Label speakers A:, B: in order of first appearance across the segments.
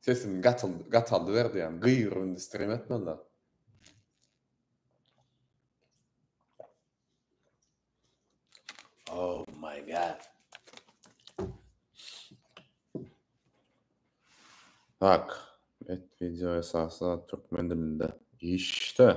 A: Sesim gatyldy gataldy berdi ýaňy gygyryp indi stream etmezler. Oh my god. Tak. Et video esasy türkmen dilinde. İşte.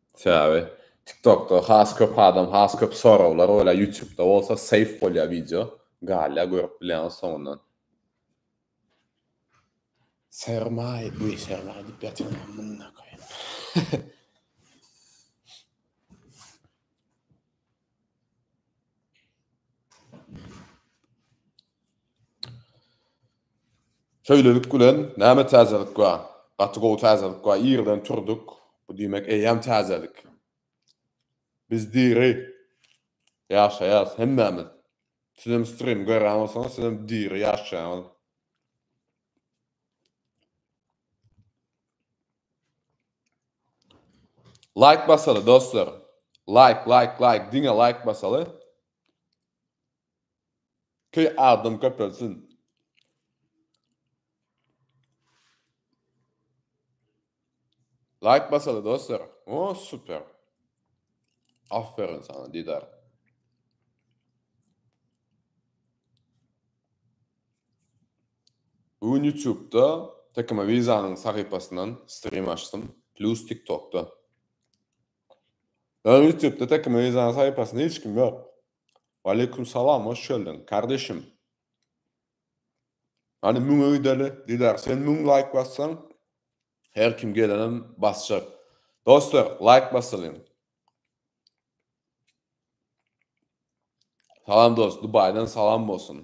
A: Sebäbi TikTokda has köp adam has köp soraglar goýýar, Ýutubda bolsa save bolýar wideo, galýar görüp bilýäňiz soňundan. Sermaý, bu sermaý diýip ýatyryň amynyna koýaýyn. Şeýlelik bilen, näme täzelik bar? Gaty gowy täzelik bar. Irden turduk. Bu diýmek eýýäm täzelik. Biz diri ýaşaýarys hemmämiz. Sizem strim görýän bolsaňyz, sizem diri ýaşaýaňyz. Laýk basaly dostlar. Laýk laýk laýk diňe laýk basaly. Ki adam köpelsin. Laýk basaly dostlar. O super. Aferin sana Didar. Bu gün ýutubda Tekamavizanyň sahypasyndan strim açdym, plus tiktokda. Ýöne ýutubda Tekamavizanyň sahypasynda hiç kim ýok. Waleýkum salam hoş geldiň kardeşim. Hany müňe gideli Didar sen müň laýk bassaň her kim gelenem basjak. Dostlar laýk basalyň. Salam dost Dubaýdan salam bolsun.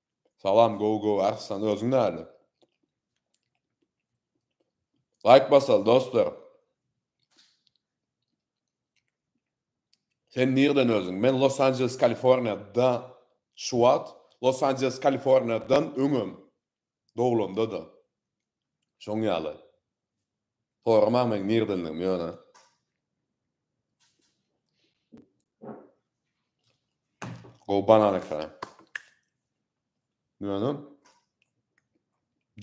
A: Salam gowy gowy Arslan özüň näle. Laýk basaly dostlar. Sen nirden özüň? Men Los Angeles Kaliforniýa da şuwat Los Angeles Kaliforniýa dan öňem doglandada şoň ýaly. Soramaň meň nirdendigimi ýöne. Gowy banan ekran. Ýöne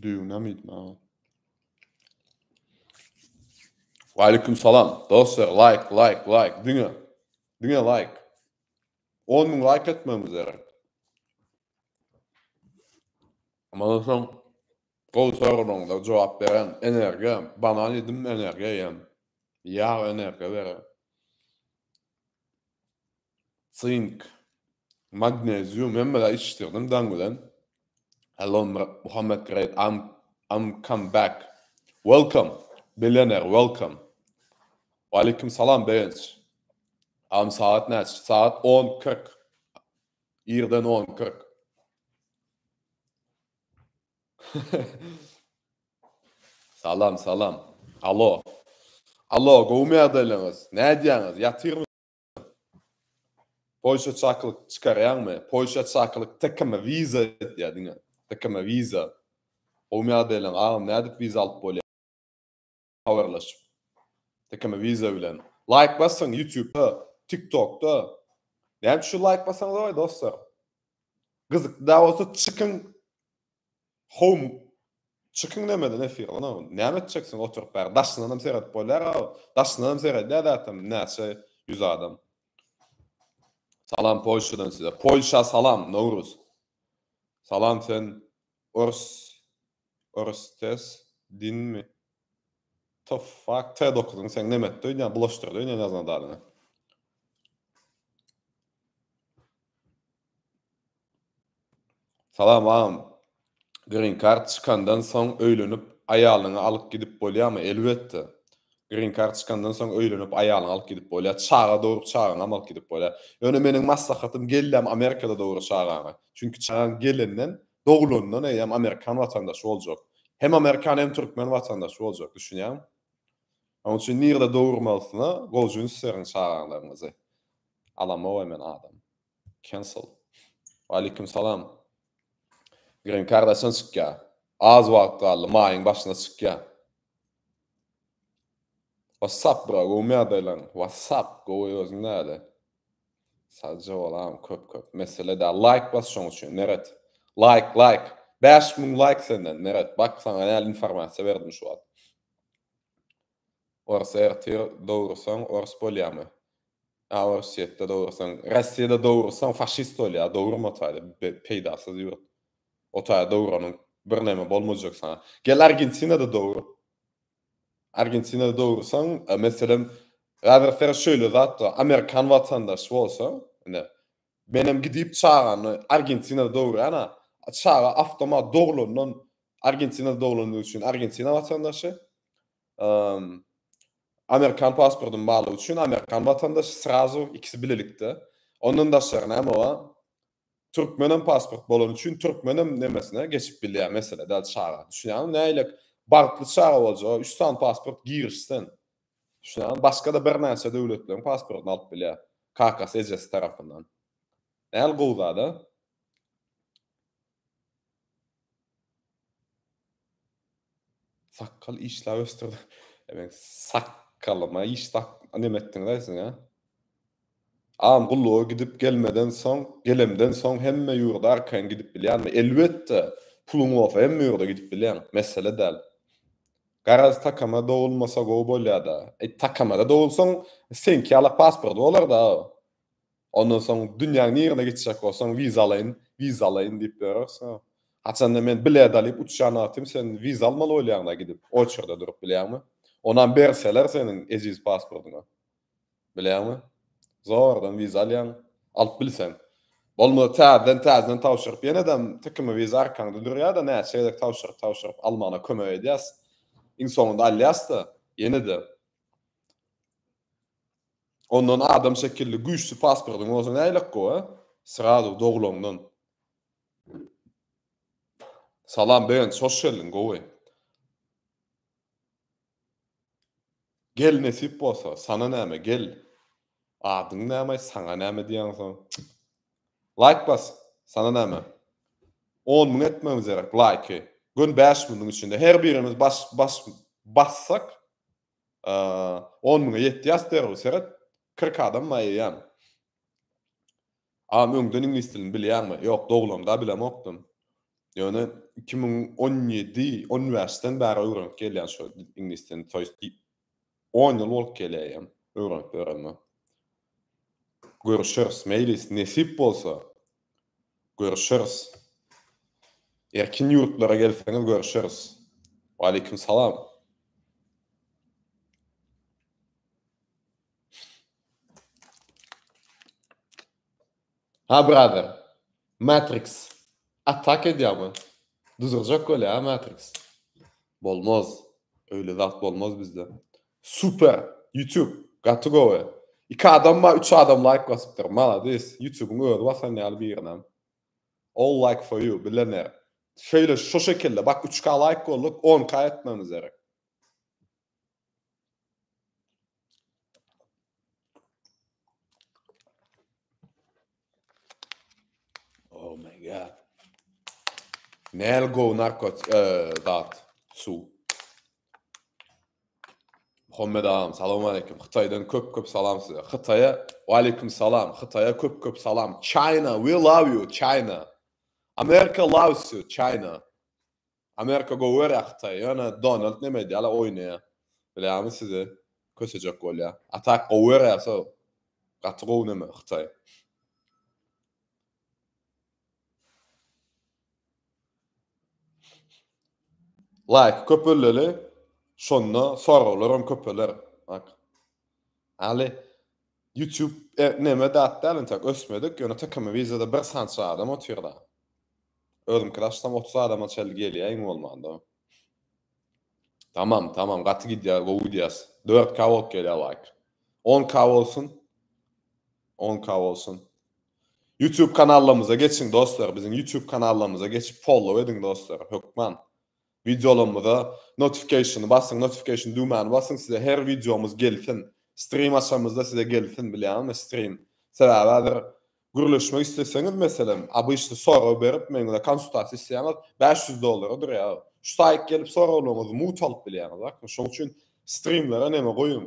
A: düýüne mi diýme. Aleyküm salam. Dostlar like like like diňe. Diňe like. 10 mün like etmemiz gerek. Ondan soň Gowy soraglaryňyza jogap beren energiýa banan ýedim energiýa ýen. Ýag energiýa berer. Sink, magnezium hemme zat içdirdim daň bilen. Hello Muhammet great I'm I'm come back. Welcome Billionaire welcome. Waleýkim salam Begenç. Agam sagat näçe? Sagat on kyrk. Irden on kyrk. Salam, salam. Alo. Alo, gowumy ýagdaýlaryňyz? Nädýäňiz? Ýatyrmy? Polşa çakylyk çykarýaňmy? Polşa çakylyk tkm wiza edýär diňe. Tkm wiza. Gowumy ýagdaýlaň agam nädip wiza alyp bolýar? habarlaşyp. Tekeme viza bilen. Laýk basyň ýutubda, tiktokda. Näme üçin laýk basaňyz oý dostlar? Gyzykly da bolsa çykyň. Home çykyň nämeden efir ona? Näme etjeksin oturyp bäri? Daşyndan hem seredip bolýar a. Daşyndan hem seredýär zatem näçe ýüz adam. Salam Polşadan size. Polşa salam Nowruz. Salam sen Ors orstes dinmi? Tofak t dokuzyň seň neme etdi öýdýän bulaşdyrdy öýdýän ýazan zadyňy. Salam agam. Green kart çykandan soň öýlenip aýalyňy alyp gidip bolýamy? Elbetde. Green card çykandan soň öýlenip aýalyňy alyp gidip bolýar, çaga dogrup çagaňam alyp gidip bolýar. Ýöne meniň maslahatym gelläm Amerikada dogry çagaňy. Çünki çagaň gelenden, doglandan eýýäm amerikan watandaşy boljak. Hem amerikan hem türkmen watandaşy boljak, düşünýäňmi? Onuň üçin nirde dogurmalysyna gojun süseriň çagaňlaryňyzy. Alamok men adam. Cancel. Waleýkim salam. Green card haçan çykýar? Az wagt galdy, maýyň başyna çykýar. What's up bro, gowmy ýagdaýlaň? What's up, gowy özüň näle? Sagja bolam köp köp. Mesele däl. Laýk bas şoň üçin Meret. Laýk, laýk. Bäş müň laýk senden Meret. Bak saňa näl informasiýa berdim şu wagt. Ors ertir dogursaň ors bolýamy? A orsýetde dogursaň, Rossiýada dogursaň faşist bolýa, dogurma o taýda, peýdasyz ýurt. O taýda doguranyň birneme bolmajak saňa. Gel Argentinada dogur. Argentinada dogursaň, meselem, häzir şeýle zatda amerikan watandaşy bolsaň, ine, Menem gidip çagany Argentinada dogurýana, çaga awtomat doglandan Argentinada doglandygy üçin Argentina watandaşy, Amerikan pasportym barlygy üçin Amerikan watandaşy srazu ikisi bilelikde. Ondan daşary näme bar? Türkmenem pasport bolany üçin türkmenem nemesine geçip bilýär mesele däl çaga. Düşünýäňmi nähili bagtly çaga boljaga üç sany pasport girişsen. Düşünýäňizmi? Başga-da birnäçe döwletleriň pasportyny alyp bilýär. Kakasy, ejesi tarapyndan. Nähili gowy zat, a? Sakgal işläp ösdürdim. Sakgalyma iş tap, neme etdiňiz-aý siz, a? Am gulluga gidip gelmeden soň, gelemden soň hemme ýurda arkaýyn gidip bilýänmi? Elbetde, puluň bolsa hemme ýurda gidip bileň, mesele däl. Garaz takama dogulmasa gowy bolýada. Eý takamada dogulsaň seňki ýala pasporty bolarda. Ondan soň dünýäň nirine gitjek bolsaň wiza alaýyn, wiza alaýyn diýip ýörersiň. Haçanda men bilet alyp uçýan wagtym sen wiza almaly bolýaňda gidip oçerde durup bilýäňmi? Onam berseler seniň ejiz pasportyňy. Bilýäňmi? Zordan wiza alýaň. Alyp bilseň. Bolmasa täzeden täzeden tabşyryp ýenedem tikimi wiza arkaňda durýada näçe gezek tabşyryp tabşyryp almagyna kömek edýäs. Iň soňunda alýasda. Ýenede. Ondan adam şekilli güýçli pasportyň bolsa näylek gowy a? Srazu dogulaňdan. Salam Begenç hoş geldiň gowy. Gel nesip bolsa, sana näme, gel. Adyň näme, saňa näme diýýäňsoň. Laýk bas, sana näme. On müň etmegimiz gerek laýky. Gün bäş müniň içinde her birimiz bas, bas, bassak, on müňe ýetýäs derrew, seret, kyrk adam maýaýan. Agam öňden iňlis dilini bilýäňmi? Ýok, doglamda bilemokdym. Ýöne iki müň on ýedi, on bäşden bäri öwrenip gelýän şu iňlis dilini, to ýest on ýyl bolup gelýäýem öwrenip ýörenime. Görüşeris, meýlis, nesip bolsa, görüşeris. Erkin ýurtlara gelseňiz görüşeris. Waleýkim salam. Ha brother. Matrix. Atak edýärmi? Duzurjak bolýa Matrix. Bolmaz. Öyle zat bolmaz bizde. Super. YouTube. Gaty gowy. Iki adam ma, üç adam like basypdyr. Malades. YouTube'un özi basan ýaly birine. All like for you. Bilener. Şöyle şu şekilde. Bak 3K like golduk. 10K etmemiz gerek. Oh my god. Nel go narkot e, zat su. Muhammed ağam salam aleyküm. Hytaydan köp köp salam size. Hytaya aleyküm salam. Hytaya köp köp salam. China we love you China. America loves you China. Amerika gowyara hytaý ýöne Donald neme edyala oýnaýa bilýami sizi kösejek bolýa a tak gowyara so gaty gowy neme hytaý. Laýky köpeldeli şonda soraglaram köpeler ak. Aly Ýutub neme zat däl entek ösmedik ýöne tykmy wideoda bir sança adam otyrda. Özümkini açsam otuz adama çelli gelýä iň bolmanda. Tamam tamam gaty gidýär gowy gidýäs. Dört k bolup gelýär laýk. On k bolsun. On k bolsun. Ýutub kanallarymyza geçiň dostlar biziň ýutub kanallarymyza geçip follow ediň dostlar hökman. Wideolarymyza notifikationy basyň notification düwmäni basyň size her wideomyz gelsin strim açamyzda size gelsin bilýäňizmi strim sebäbi häzir gürleşmek isleseňiz meselem obyçny sorag berip men bilen konsultasiýa isleýäňiz bäş ýüz dollara durýar şu saýt gelip soraglaryňyzy mut alyp bilýäňiz bakmy şoň üçin strimlere neme goýuň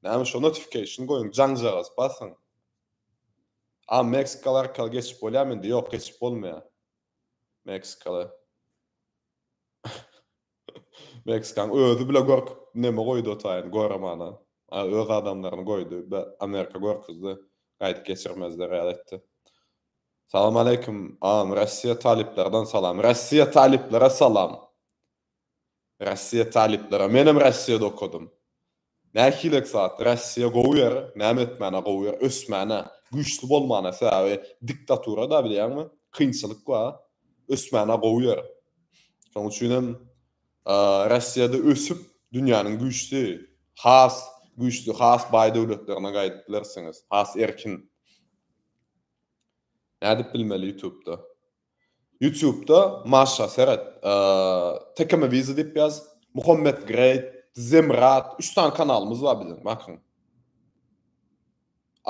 A: näme şo notifikation goýuň jaňjagaz basyň a meksikaly arkaly geçip bolýa mende ýok geçip bolmaýa. Meksikaly. Meksikaň özi bile gorkup neme goýdy otaýyn goremana. A öz adamlaryny goýdy. Be Amerika gorkuzdy. Gaýdyp geçirmezler ýaly etdi. Salam aleýkum agam Rossiýa talyplardan salam Rossiýa talyplara salam. Rossiýa talyplara menem Rossiýada okadym. Nähilek zat Rossiýa gowy ýer näme etmäne gowy ýer ösmäne güýçli bolmana sebäbi diktatura da bilýäňmi kynçylyk ba ösmäne gowy ýer şoň üçin hem Rossiýada ösüp dünýäniň güýçli has güýçli has baý döwletlerine gaýdyp bilersiňiz has erkin nädip bilmeli ýutubda. Ýutubda Maşa seret. Tekeme wizy diýip ýaz. Muhammet Great, Zemrat, üç sany kanalymyz bar biziň, bakyň.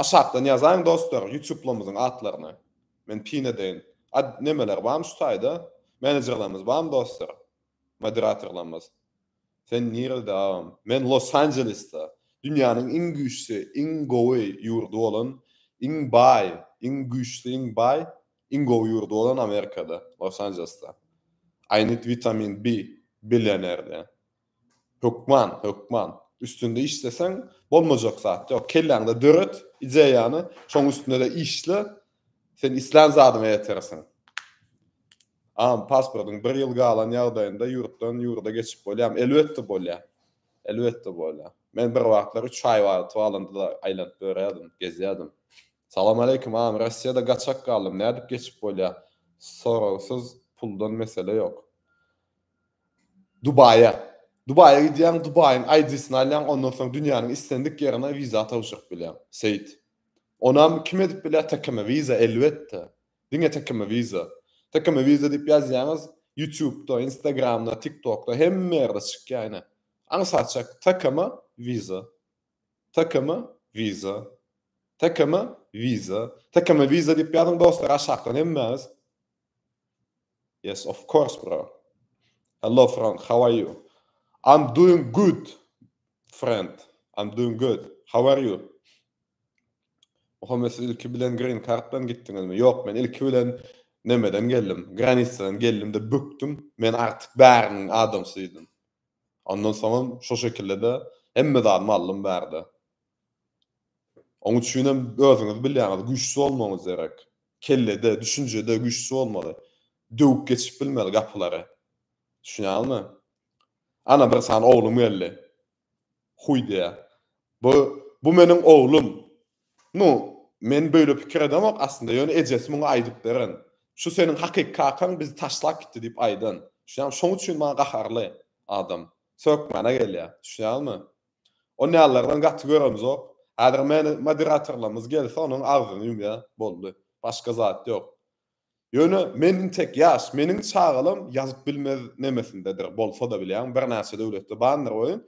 A: Aşakdan ýazaýyň dostlar, Ýutublarymyzyň atlaryny. Men pin edeýin. A nemeler barmy şu taýda? Menejerlerimiz barmy dostlar? Moderatorlarymyz. Sen nirede agam? Men Los Anjelesde. Dünýäniň iň güýçli, iň gowy ýurdy bolan, iň baý, iň güýçli, iň baý Iň gowy ýurdy bolan Amerikada, Los Anjelesde. I need vitamin B, Billionaire'de. Hökman, hökman. Üstünde işleseň, bolmajak zat ýok. Kelläňde döret ideýany, şoň üstünde-de işle, sen islän zadyňa ýetersiň. A, pasportyň bir ýyl galan ýagdaýynda ýurtdan ýurda geçip bolýamy? Elbetde bolýar. Elbetde bolýar. Men bir wagtlar üç haýwany alyp aýlanyp ýörerdim, gezýärdim. Salam aleýkum agam Rossiýada gaçak galdym nädip geçip bolýa soragsyz puldan mesele ýok. Dubaýa. Dubaýa gidýäň Dubaýyň ID-sini alýaň ondan soň dünýäniň islendik ýerine wiza tabşyryp bilýäň. Seýit. Onam kim edip bilýä tkm wiza elbetde. Diňe tkm wiza. Tkm wiza diýip ýazýaňyz ýutubda instagramda tiktokda hemme ýerde çykýa ine. Aňsat çek tkm wiza. Takama Visa Takama Visa Takama Visa diýip ýazyň dostlar aşakdan hemmäňiz. Yes of course bro. Hello friend how are you? I'm doing good friend. I'm doing good. How are you? Muhammed siz ilki bilen green kartdan gitdiňizmi? Ýok, men ilki bilen nemeden geldim. Granisadan geldim de bükdüm. Men artyk bäriniň adamsyydym. Ondan soňam şo şekilde-de hemme zadymy aldym bärde. Oň üçinem özüňiz bilýäňiz, güýçli bolmagyňyz gerek. Kellede, düşünjede güýçli bolmaly. Döwüp geçip bilmeli gapylary. Düşünýäňizmi? Ana bir sany oglum geldi. Huý diýýär. Bu, bu meniň oglum. Nu, men böýle pikir edemok aslynda, ýöne ejesi muňa aýdyp beren. Şu seniň hakyky kakaň bizi taşlap gitdi diýip aýdan. Düşünýäňmi? Şoň üçin maňa gaharly adam. Sökmäne gelýär. Düşünýäňmi? Onýalylardan gaty göremzok. Häzir meni moderatorlarymyz gelse onuň agzyny ýumýar. Boldy. Başga zat ýok. Ýöne men intek ýaş, meniň çagalam ýazyp bilmez nemesindedir, bolsa-da bilýäň, birnäçe döwletde bandyr oýun.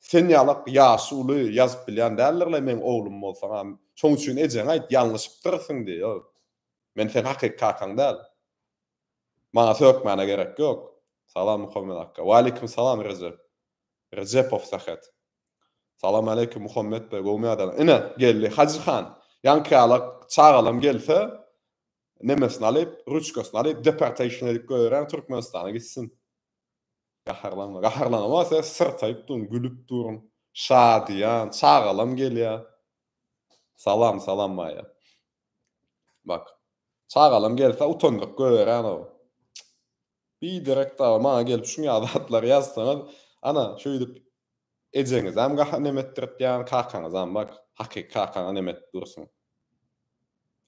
A: Sen ýalak ýaşy uly, ýazyp bilýän däldirler, meň oglum bolsaň-a. Şoň üçin ejeňe aýt, ýalňyşypdyrsyň diý, ýo, men seniň hakyky kakaň däl. Maňa sökmäne gerek ýok. Salam Muhammet akga. Waleýkim salam Rejep. Rejepow Sähet. Salam aleýkum Muhammet be, göwni ýadana. Ine, geldi Hajy han. Ýaňky ýalak çagalam gelse, Nemesini alyp, ruçkasyny alyp, deportation edip goýberýän Türkmenistana gitsin. Gaharlanma. Gaharlanama sen syrtaýyp durun, gülüp durun. Şadyýan, çagalam gelýä. Salam, salam Maýa. Bak. Çagalam gelse utandyryp goýberýän o. Biderek dagy maňa gelip şuň ýaly zatlary ýazsaňyz, ana, şeýdip ejeňizem gaha nem etdirtýän, kakaňyzam bak, hakyky kakaňa nem edip dursuň.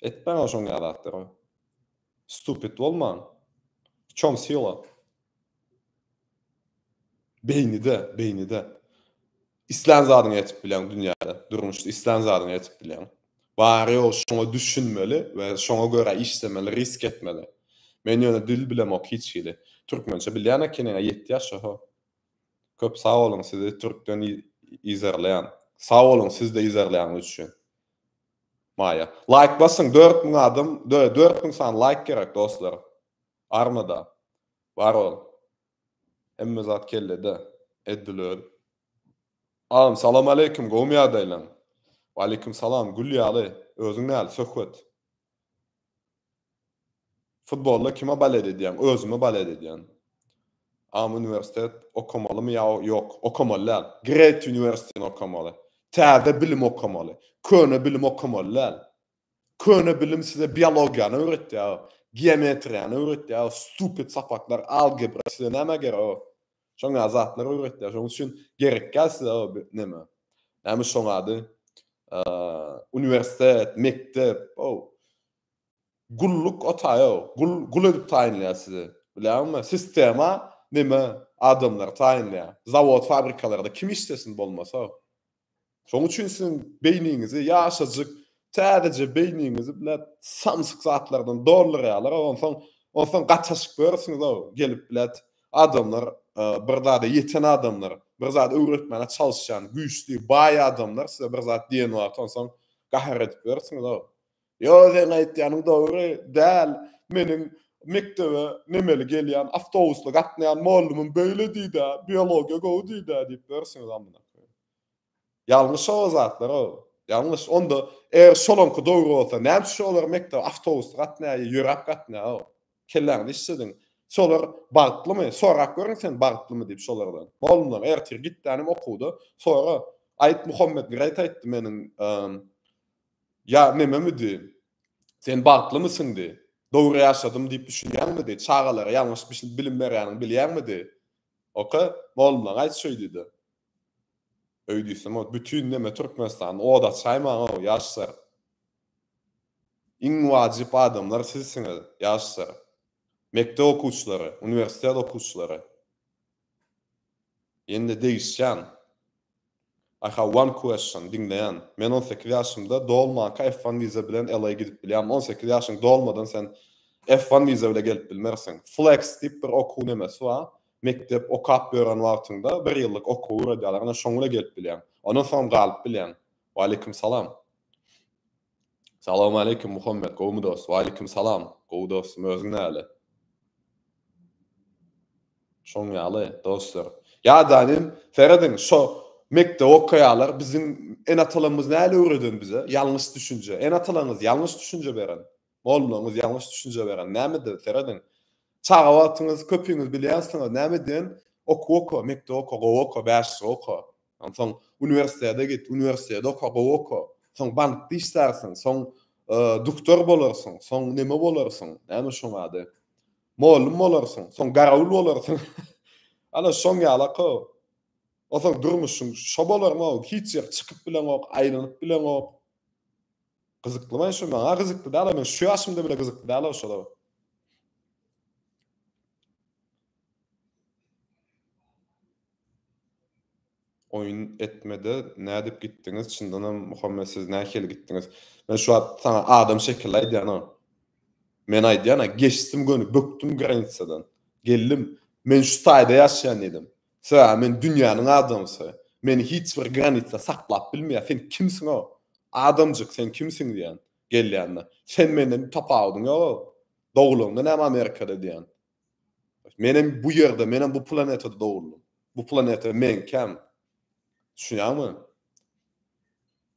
A: Etmäň o şoň ýaly zatlary. Stupid bolmaň. W çom sila? Beýnide, beýnide. Islän zadyňy etip bileň dünýäde, durmuşda islän zadyňy edip bileň. Bary ýogy şoňa düşünmeli we şoňa görä işlemeli, risk etmeli. Men ýöne dil bilemok hiç hili. Türkmençe bilýän ekeniňä ýetti ýaşa ho. Köp sag boluň sizi türkden yzarlaýan. Sag boluň sizde yzarlaýanyz üçin. Maýa. Laýk basyň dört müň adam dört müň sany laýk gerek dostlar. Barmyda. Bar ol. Hemme zat kellede. Eddil öz. Agam salam aleýkum gowmy ýagdaýlaň. Waleýkum salam gül ýaly özüň näli söhbet. Futbolda kime balet edýäň özüme balet edýän. Agam uniwersitet okamalymy ýa ýok okamaly däl. Great uniwersitetini okamaly. Täze bilim okamaly. Köne bilim okamaly däl. Köne bilim size biologiýany öwretýär, geometriýany öwretýär, stupid sapaklar, algebra size näme gerek? Şoňa zatlar öwretýär. Şoň üçin gerekýär size o neme. Näme şoň ady? Uniwersitet, mekdep, o gulluk otaýo, gul gul edip taýynlaýar sizi. Bilýäňmi? Sistema neme adamlary taýynlaýar. Zawod, fabrikalarda kim işlesin bolmasa? Şoň üçin siziň beýniňizi ýaşajyk täzeje beýniňizi bile samsyk zatlardan doldurýarlar onsoň onsoň gataşyp görürsüňiz-ow gelip bilet adamlar bir zada ýeten adamlar bir zat öwretmäne çalyşýan güýçli baý adamlar size bir zat diýen wagty onsoň gahar edip görürsüňiz-ow Ýo seň aýtýanyň dogry däl meniň mekdebe nemeli gelýän awtobusly gatnaýan mollumym beýle diýdä biologiýa gowy diýdä diýip bilersiňiz amyna koýun. Ýalňyş o zatlar o ýalňyş onda eger şolaňky dogry bolsa näme üçin olar mekdebe awtobusly gatnaýar ýa ýöräp gatnaýar o kelläňizi işlediň şolar bagtlymy sorap görüň sen bagtlymy diýip şolardan mollumlar ertir gitdänem okuwda sora aýt muhammet greýt aýtdy meniň Ýa nememidi? Sen bagtlymysyňdy? Dogry ýaşadym diýip düşünýäňmidi? Çagalara ýalňyş bilim berýäniňi bilýäňmidi? Oka, molumlaň aýt şöýdüde. Öý diýsem-ow, bütin neme Türkmenistany oda açaýmaň-ow, ýaşlar. Iň wajyp adamlar sizsiňiz, ýaşlar. Mekdep okuwçylary, uniwersitet okuwçylary. Indi degişýän. I have one question, diňleýän. Men on sekiz ýaşymda dolmanka F one wiza bilen LA gidip bilýärmi? On sekiz ýaşyň dolmadan sen F one wiza bile gelip bilmersiň. Flex diýip bir okuw nemesi bar. Mekdep okap ýören wagtyňda bir ýyllyk okuw uradýarlar, ine şoň bile gelip bilýäň. Ondan soňam galyp bilýäň. Waleýkim salam. Salawmaleýkim Muhammet gowmy dost. Waleýkim salam gowy dostum özüň näle. Şoň ýaly dostlar. Ýadanem serediň şo mekdep okaýalar biziň ene atalarymyz näle öwreden bize ýalňyş düşünje ene atalaňyz ýalňyş düşünje beren mollaňyz ýalňyş düşünje beren näme de serediň çaga wagtyňyz köpiňiz bilýänsiňiz näme diýen okuw oka mekdep oka gowy oka bäşlik oka Onsoň uniwersitete git, uniwersitete oka, gowy oka. Soň bankda işlärsiň, soň duktor bolarsyň, soň neme bolarsyň, näme şoň ady? Mugallym bolarsyň, soň garawul bolarsyň. Ana şoň ýalaka. Onsoň durmuşyň şo bolarmy? Hiç ýere çykyp bileňok, aýlanyp bileňok. Gyzyklymy şu? Maňa gyzykly däl, men şu ýaşymda bile gyzykly däl-ow şolar. Oýun etmede nädip gitdiňiz çyndanam Muhammet siz nähili gitdiňiz men şu wagt saňa adam şekilli aýdýanok men aýdýana geçdim göni bökdüm granitsadan geldim men şu taýda ýaşaýan diýdim sebäbi men dünýäniň adamsy meni hiç bir granitsa saklap bilmeýär sen kimsiň ow adamjyk sen kimsiň diýýän gelýände sen menden tapawudyň ýok ow dogulanda näme amerikada diýýän Men hem bu ýerde, men hem bu planetada dogruldym. Bu planeta meňkäm. Düşünýäňmi?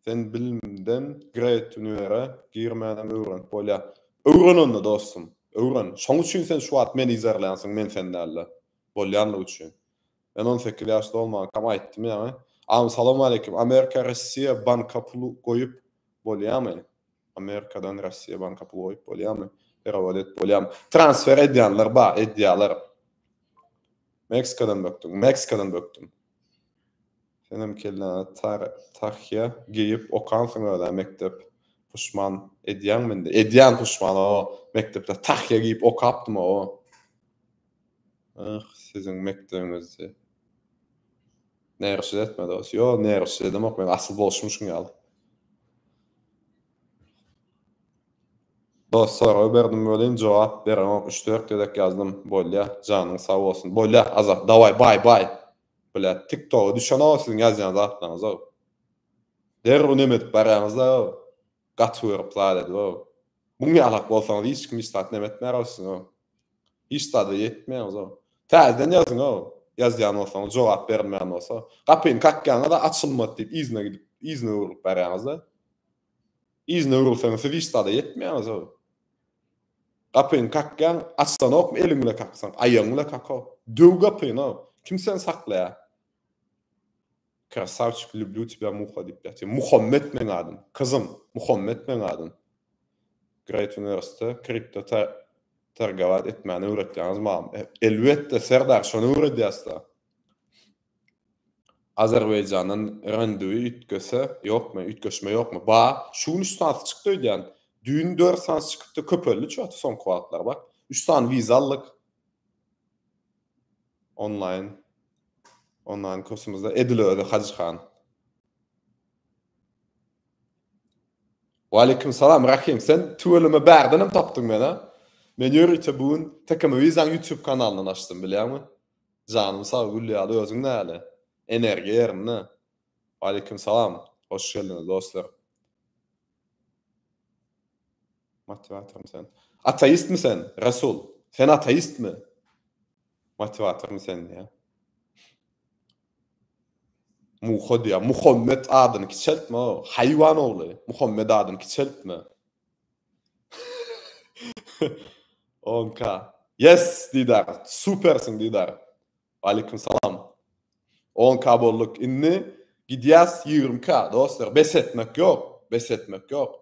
A: Sen bilimden Great Universe-e girmänem öwrenip bolýar. Öwren onda dostum, öwren. Şoň üçin sen şu wagt meni yzarlaýansyň, men sen däl-de. Bolýanlygy üçin. Men on sekiz ýaş dolmankam aýtdym ýaňy. Am salawmaleýkim Amerika Rossiýa banka pul goýup bolýamy? Amerikadan Rossiýa banka pul goýup bolýamy? Perewod et bolýamy? Transfer edýänler bar edýäler. Meksikadan bökdüm Meksikadan bökdüm. Senem kelläňe tar tahýa geýip okansyň özä mekdep puşman edýäňmi indi? Edýän puşman o mekdepde tahýa geýip okapdym o. Aah siziň mekdebiňizde Nerşid etme dos. Yo nerşid edemok men asyl bolşum şuň ýaly. Dos sorag berdim welin jogap bereňok üç dört gezek ýazdym bolýa janyň sag bolsun bolýa Azat daway baý baý Bile tik toga düşenok siziň ýazýan zatlaryňyza derrew neme edip barýaňyzda Gaty görip zat edibou. Muň ýalak bolsaňyz hiç kim hiç zat näme etmär ol siziňou. Hiç zada ýetmeýäňizou. Täzeden ýazyňou. Ýazýan bolsaňyz jogap berilmän bolsa. Gapyny kakýaňyz-a açylmady diýip yzyna gidip yzyna öwrülip barýaňyz-da. Yzyna öwrülseňiz siz hiç zada ýetmeýäňizou. Gapyny kakýaň açsanokmy eliň bile kaksaň aýagyň bile kakok. Döw gapynau. Kim seni saklaýar. Krasawçik lüblü tibä muha diýip ýatyr. Muhammet meň adym. Kyzym, Muhammet meň adym. Great Universe'de kripto ta targawat etmäni öwretýäňiz mam. E, elbetde serdar şony öwredýäsda. Azerbaýjandan renduwi üýtgese ýokmy, üýtgeşme ýokmy? Ba, şu gün üç sany çykdy öýdýän. Düýn dört sany çykypdy, köpeldi çöti soňky wagtlar bak. Üç sany wiza aldyk. Onlaýn onlaýn kursumyzda edil özi Hajy han. Waleýkim salam Rahim sen tüweleme bärden hem tapdyň meni. Men ýörite bu gün TKM Vizan YouTube kanalyndan açdym bilýäňmi? Janym sag gül ýaly özüň näle? Energiýa ýerinde. Waleýkim salam. Hoş geldiňiz dostlar. Motiwatormy sen? Ateistmi sen, Resul? Sen ateistmi? Motiwatormy sen diýýär. Muha diýýär. Muhammet adyny kiçeltme, haýwan ogly. Muhammet adyny kiçeltme. Onka. Yes, Didar. Supersiň, Didar. Waleýkim salam. On K bolduk indi gidýäs ýigrimi K dostlar bes etmek ýok bes etmek ýok.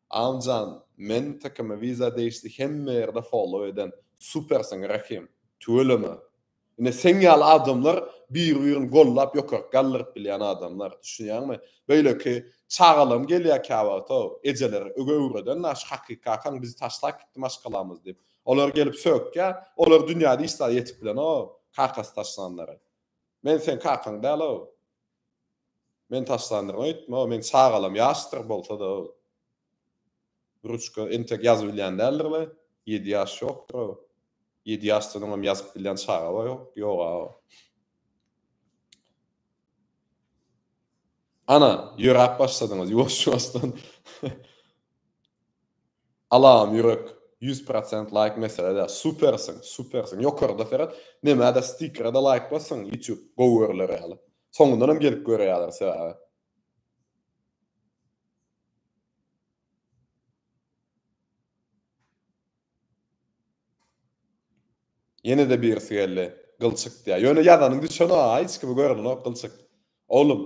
A: Almjan men tkymy wiza degişli hemme ýerde follow eden supersiň Rahim tüweleme ine seň ýaly adamlar biri birini gollap ýokaryk galdyryp bilýän adamlar düşünýäňmi beýleki çagalam gelýär käwagtow ejeler öge öwreden naş hakyky kakaň bizi taşlap gitdi maşgalamyz diýip Olar gelip sökýä, olar dünýä diýsa ýetip bilenok, kakasy taşlanlary. Men seň kakaň däl-ow. Men taşlandyryn öýtme-ow, meň çagalam ýaşdyr bolsa-da-ow. Ruçka entek ýazyp bilýän däldir-le, ýedi ýaş ýokdur-ow. Ýedi ýaşdan oňam ýazyp bilýän çaga bar-ow, ýog-ow. Ana, ýöräp başladyňyz, ýuwaş-ýuwaşdan. Alam ýürek, ýüz prosent laýk mesele däl. Supersiň, supersiň. Ýokarda seret, nämä-de stikere-de laýk bassaň, ýutýub gowy görüler ýaly. Soňundan hem gelip görýärler sebäbi. Ýene-de birisi geldi. Gylçyk diýýär. Ýöne ýazanyň düşen-a, hiç kimi görenok Gylçyk. Oglum,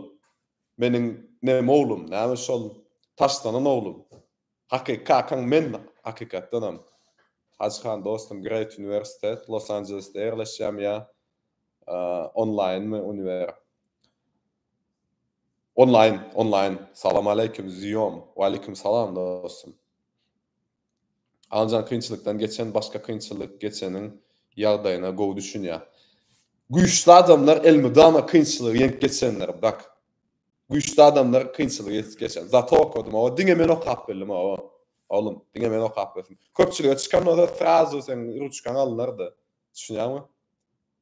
A: meniň neme oglum, näme şol taşlanan oglum. Hakyky kakaň men, hakykatdanam. Hajy han dostum, Great Uniwersitet, Los Anjelesde ýerleşýän ýa onlaýynmy uniwer. Onlaýyn, onlaýyn. Salam aleýkum, Ziýom. Waleýkum salam dostum. Anjan kynçylykdan geçen başga kynçylyk geçeniň ýagdaýyna gowy düşünýä. Güýçli adamlar elmydama kynçylygy ýeňip geçenler brak. Güýçli adamlar kynçylygy ýetip geçen. Zato okadym oba diňe men okap bildim oba. Oglum diňe men okap bildim. Köpçülige çykan bolsa srazu seň ruçkaň alynardy. Düşünýäňmi?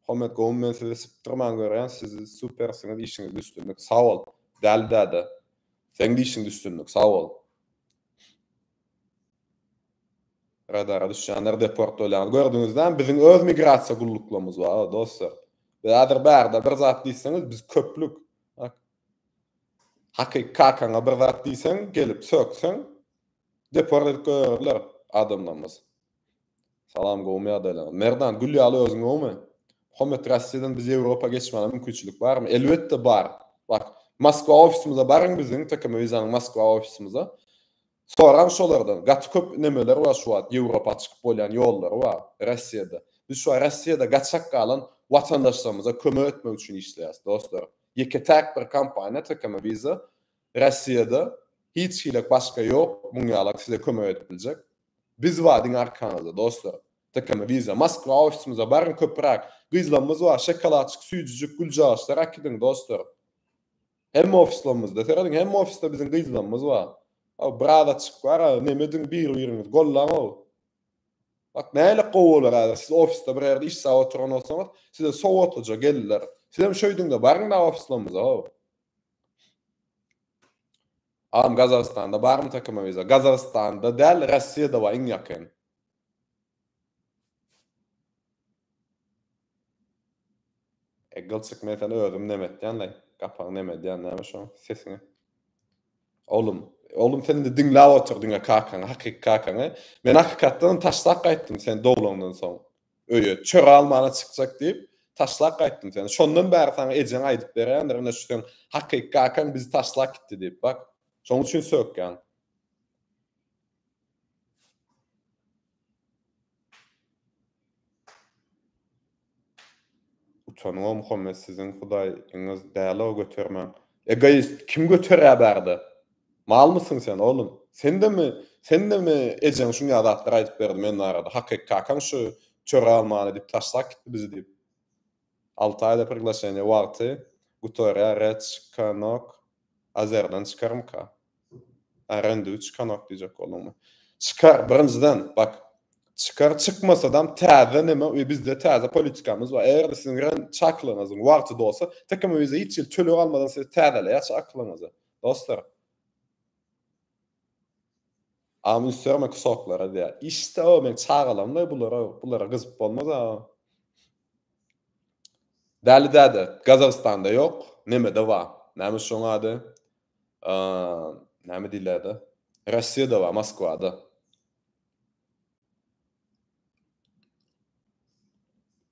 A: Hommet gowmy men sizi sypdyrman görýän siz supersiňiz işiňizde üstünlik. Sag bol. Däli däde. Seň de işiňde üstünlik. Sag bol. Radara düşýänler deport bolýar. Gördüňizlämi biziň öz migrasiýa gulluklarymyz bar ha dostlar. Biz häzir bärde bir zat diýseňiz biz köplük. Hakyky kakaňa bir zat diýseň gelip sökseň deport edip goýarlar adamlarymyz. Salam gowmy ýagdaýlaryňyz. Merdan gül ýaly özüň gowmy. Muhammet Russiýadan biz Ýewropa geçmäne mümkinçilik barmy? Elbetde bar. Bak Moskwa ofisimize baryň biziň TKM Visa-nyň Moskwa ofisimize. Soraň şolardan. Gaty köp nemeler bar şu wagt Ýewropa çykyp bolýan ýollary bar Russiýada. Biz şu wagt Russiýada gaçak galan watandaşlarymyza kömek etmek üçin işleýäs dostlar. Ýeke täk bir kompaniýa TKM Visa Rossiýada hiç hili başga ýok muň ýalak size kömek edip biljek. Biz bar diňe arkaňyzda dostlar. Tkm wiza Moskwa ofisimize baryň köpüräk. Gyzlamyz bar şokoladçyk süýjijik güljagaçlar akidiň dostlar. Hemme ofislamyzda serediň hemme ofisde biziň gyzlamyz bar. Aw brazaçyk bar a neme ediň bir biriňiz gollaň aw. Bak näle gowy bolar häzir siz ofisde bir ýerde işsäp oturan bolsaňyz size sowatlyja gelirler. Sizem şöýdiňde baryňda ofislamyza aw. Agam gazagystanda barmy takym viza. Gazagystanda däl Rossiýada bar iň ýakyn. Egil çyk men seni özüm neme etýän lay gapaň neme edýän näme şoň sesiňe. Oglum oglum sen indi diňläp otur diňe kakaňy hakyky kakaňy. Men hakykatdanam taşlap gaýtdym sen doglandan soň. Öýe, çöre almana çykjak diýip, taşlap gaýtdym seni. Şondan bäri saňa ejeň aýdyp berýändir, ine şu seň hakyky kakaň bizi taşlap gitdi diýip, bak. Şoň üçin sökýän. Utanyň-ow Muhammet siziň hudaýyňyz däl-ow götermäň. Egoist kim göterýä bärde. Malmysyň sen oglum? Sendemi sendemi ejeň şunýa zatlar aýdyp berdi men barada? Hakyky kakaň şu çöre almany diýip taşlap gitdi bizi diýip. Alty aýda priglaşeniýe wagty gutarýa rec kanok azerden çykarmyka? Arendu çykanok diýjek bolduňmy? Çykar birinjiden bak çykar çykmasadam täze neme we bizde täze politikamyz bar eger siziň ren çaklygyňyzyň wagty dolsa tekemüze hiç hili töleg almadan siz täzeleýaç aklyňyzy. Dostlar, Amy üsdürme kusoklara diýýär. Işde o men çagalamda bulara bulara gyzyp bolmaz a. Däli däde, Gazagystanda ýok, nemede bar. Näme şoň ady? Näme diýlärdi? Rossiýada bar, Moskwada.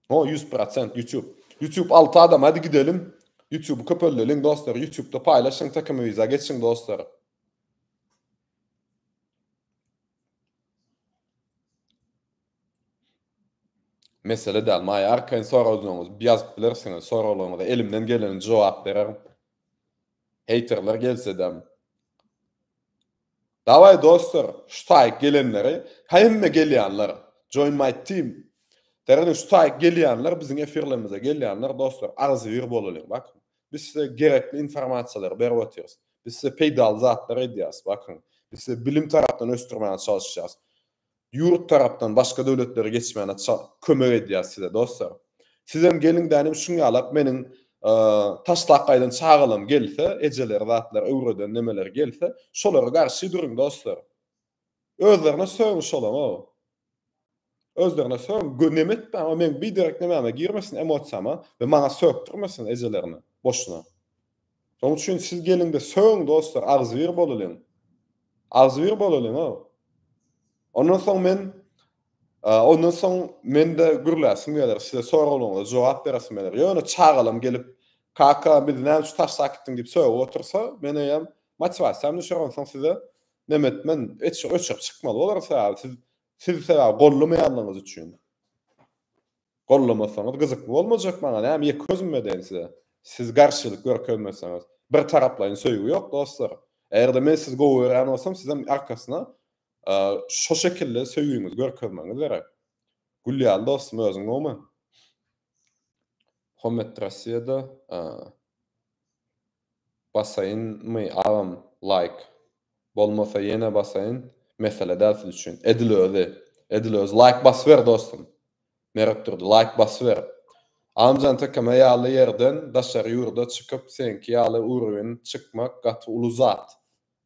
A: O 100% YouTube. YouTube 6 adam hadi gidelim. YouTube'u köpeldelim dostlar. YouTube'da paylaşın takımı viza geçin dostlar. Mesele däl. Maýa arkaýyn soraglaryňyz ýazyp bilersiňiz. Soraglaryňyza elimden geleni jogap bererin. Haterler gelse-de. Daway dostlar şu taýyk gelenleri hemme gelýanlar join my team Däredeň şu taýyk gelýanler biziň efirlerimize gelýanler dostlar agzybir bolalyň bakyň biz size gerekli informasiýalary berip otyrys biz size peýdaly zatlary edýäris bakyň biz size bilim tarapdan ösdürmäge çalyşýas Ýurt tarapdan başga döwletlere geçmäne çal kömek edýär size dostlar. Sizem geliň dänim şuň ýalap meniň taşlap gaýdan çagalam gelse ejeleri zatlar öwreden nemeler gelse şolara garşy duruň dostlar. Özlerine söň şolaňa. Özlerine söň gö neme etmäň o meň biderek nemäme girmesin emosiýama we maňa sökdirmesin ejelerine boşuna. Şoň üçin siz geliňde sögüň dostlar, agzybir bolalyň. Agzybir bolalyň-a. Ondan soň men ondan soň mende gürläsim geler, size soraglaryňyza jogap beresim geler. Ýöne çagalam gelip, kaka biz näme üçin taşlap gitdiň diýip sögüp otursa, men eýýäm motiwasiýam düşer, onsoň size neme etmen, öçüp çykmaly bolarys, sebäbi siz siz sebäbi gollamaýanlygyňyz üçin. Gollamasaňyz gyzykly bolmajak maňa näme ýeke özüm edeýin size siz garşylyk görkezmeseňiz bir taraplaýyn söýgi ýok dostlar eger-de men sizi gowy görýän bolsam sizem arkasyna şo şekilde söýgiňizi görkezmegiňiz gerek gül ýaly dostum özüň gowmy Hommet Rossiýada Basaýynmy agam laýk. Bolmasa ýene basaýyn mesele däl siz üçin. Edil özi. Edil özi. Laýk basyber dostum. Meretdurdy laýk basyber. Agamjan Tekeme ýaly ýerden daşary ýurda çykyp seňki ýaly urwin çykmak gaty uly zat.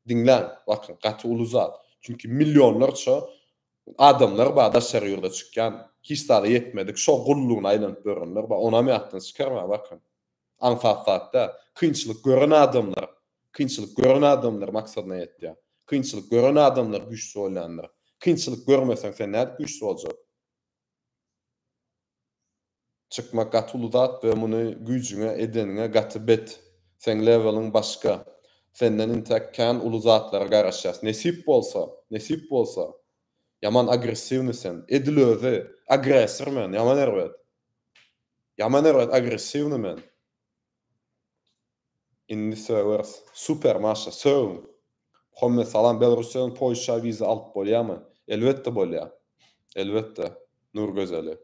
A: Diňläň bakyň gaty uly zat. Çünki millionlarça adamlar bar daşary ýurda çykýan hiç zada ýetmedik şo gullugyna aýlanyp ýörenler bar onam ýatdan çykarma bakyň. Aňsat zatda kynçylyk gören adamlar, kynçylyk gören adamlar maksadyna ýetýär. Kynçylyk gören adamlar güýçli bolýandyr. Kynçylyk görmeseň sen nädip güýçli boljak? Çykmak gaty uly zat we muny güýjüňe edeniňe gaty bet. Seň leweliň başga. Senden intäk kän uly zatlara garaşýas. Nesip bolsa, nesip bolsa. Ýaman agressiwny sen. Edil özi, agresor men, ýaman erbet. Ýaman erbet agressiwny men. Indi sögers. Super maşa sögüň. Muhammet salam Belarussiýadan Polşa wiza alyp bolýamy? Elbetde bolýar. Elbetde. Nur gözeli.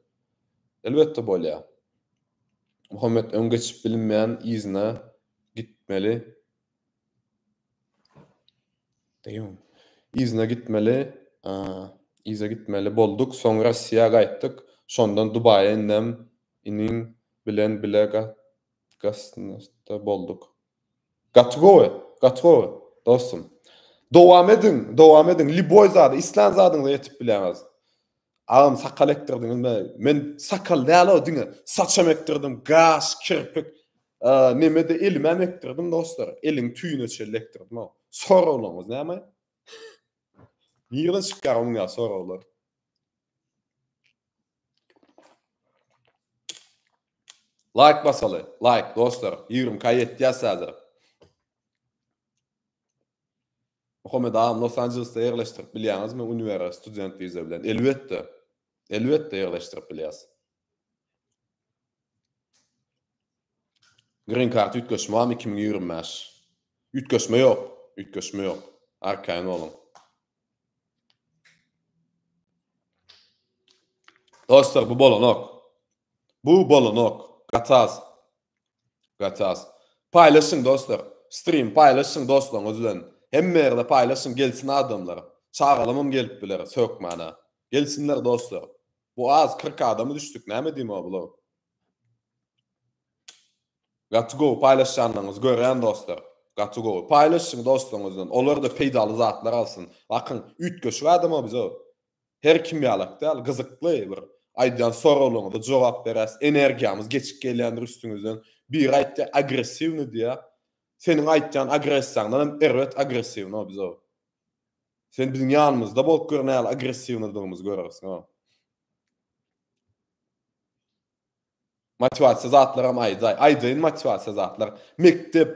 A: Elbetde bolýar. Muhammet öň geçip bilinmeýän yzyna gitmeli Yzyna gitmeli, yza gitmeli bolduk, soň Rossiýa gaýtdyk, şondan Dubaýa indem iniň bilen bile gasnaşda bolduk. Gaty gowy, gaty gowy, dostum. Dowam ediň, dowam ediň, lýuboý zada, islän zadyňyza ýetip bilýäňiz. Agam sakal ekdirdiňizmi? Men sakal dälo diňe saçam ekdirdim, gaş, kirpik, nemede elimem ekdirdim dostlar. Eliň tüýüne çenli ekdirdim. Soraglaryňyz näme? Nirden çykýar onuň ýa soraglar? Like basaly, like dostlar. 20 k ýetýäs häzir. Muhammet agam Los Anjelesde ýerleşdirip bilýäňizmi uniwere student wiza bilen elbetde elbetde ýerleşdirip bilýäs. Green kart üýtgeşme barmy iki müň ýigrimi bäş? Üýtgeşme ýok, üýtgeşme ýok. Arkaýyn boluň. Dostlar bu bolanok. Bu bolanok. Gatas. Gatas. Paýlaşyň dostlar. Stream paýlaşyň dostlaryňyz bilen. Hemme ýerde paýlaşyň gelsin adamlar. Çagalamam gelip biler hökmana. Gelsinler dostlar. Bu az kyrk adamy düşdük näme edeyim o bulaw. Gaty gowy paýlaşýanlaryňyzy görýän dostlar. Gaty gowy. Paýlaşyň dostlaryňyz bilen. Olar da peýdaly zatlar alsyn. Bakyň üýtgeşik adam o bize. Her kim ýalak däl, gyzykly bir aýdýan soraglaryňyza jogap beräs, energiýamyz geçip gelýändir üstüňizden, biri aýtýa agressiwny diýýä, seniň aýtýan agressiýaňdan hem erbet agressiwno biz ow. Sen biziň ýanymyzda bolup gör nähili agressiwnydygymyzy görersiň ow. Motiwasiýa zatlaram aýdaý. Aýdaýyn motiwasiýa zatlar. Mekdep,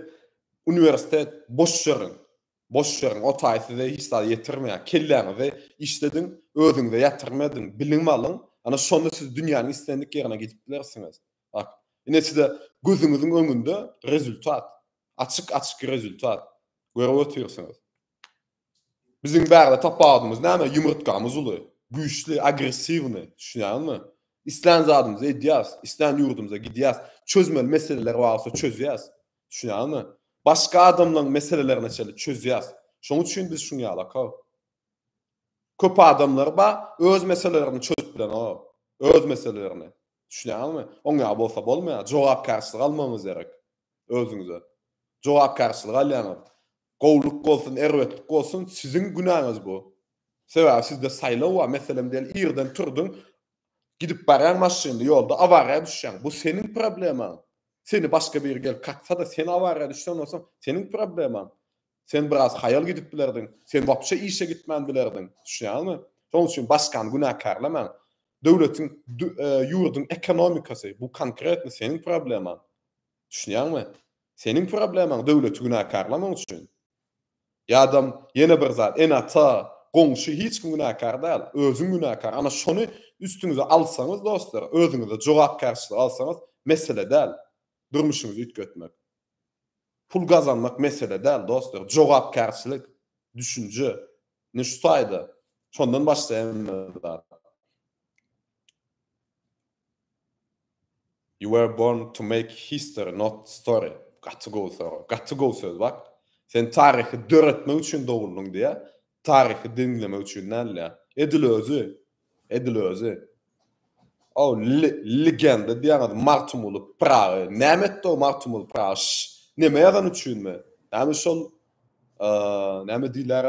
A: uniwersitet boş ýeriň. Boş ýöriň o taý size hiç zat ýetirmeýär. Kelläňizi işlediň, özüňize ýatyrym ediň, bilim alyň, ana şonda siz dünýäniň islendik ýerine gidip bilersiňiz. Bak, ine size gözüňiziň öňünde rezultat, açyk-açyk rezultat. Görüp otyrsyňyz. Biziň bärde tapawudymyz näme? Ýumurtgamyz uly, güýçli, agressiwnyý, düşünýäňizmi? Islän zadymyzy edýäs, islän ýurdumyza gidýäs, çözmeli meseleler bar bolsa çözýäs. Düşünýäňmi? Başga adamlaryň meselelerini çeli çözýäs. Şonuň üçin biz şuň ýaly aka. Köp adamlar bar, öz meselelerini çözüp bilenok. Öz meselelerini. Düşünýäňmi? Oň ýaly bolsa bolmaýar. Jogapkärçilik almagyňyz gerek. Özüňize. Jogapkärçilik alýaňyz. Gowulyk bolsun, erbetlik bolsun, siziň günäňiz bu. Sebäbi sizde saýlaw bar. Meselem diýeli, irden turduň, gidip barýaň maşynly ýolda awariýa düşýäň. Bu seniň problemaň. Seni başga biri gelip kaksa-da, sen awariýa düşen bolsaň, seniň problemaň. Sen biraz haýal gidip bilerdiň, sen wapşe işe gitmän bilerdiň. Düşünýäňmi? Şonuň üçin başgany günäkärlemäň. Döwletiň, ýurduň ekonomikasy, bu konkretno seniň problemaň. Düşünýäňmi? Seniň problemaň, döwleti günäkärlemek üçin. Ýadam, ýene bir zat, ene-ata, goňşy hiç kim günäkär däl, özüň günäkär. Ana şony üstüňize alsaňyz dostlar, özüňize jogapkärçilik alsaňyz, mesele däl durmuşyňyzy üýtgetmek. Pul gazanmak mesele däl dostlar, jogapkärçilik, düşünje. Ine şu taýda, şondan başlaýan zat. You were born to make history not story gaty gowy sorag gaty gowy söz bak sen taryhy döretmek üçin doguldyň diýä taryhy diňlemek üçin däl diýä edil özi edil özi o legenda diýäňiz magtymguly pyragy näme etdi o magtymguly pyragy näme ýazan üçinmi näme şol näme diýler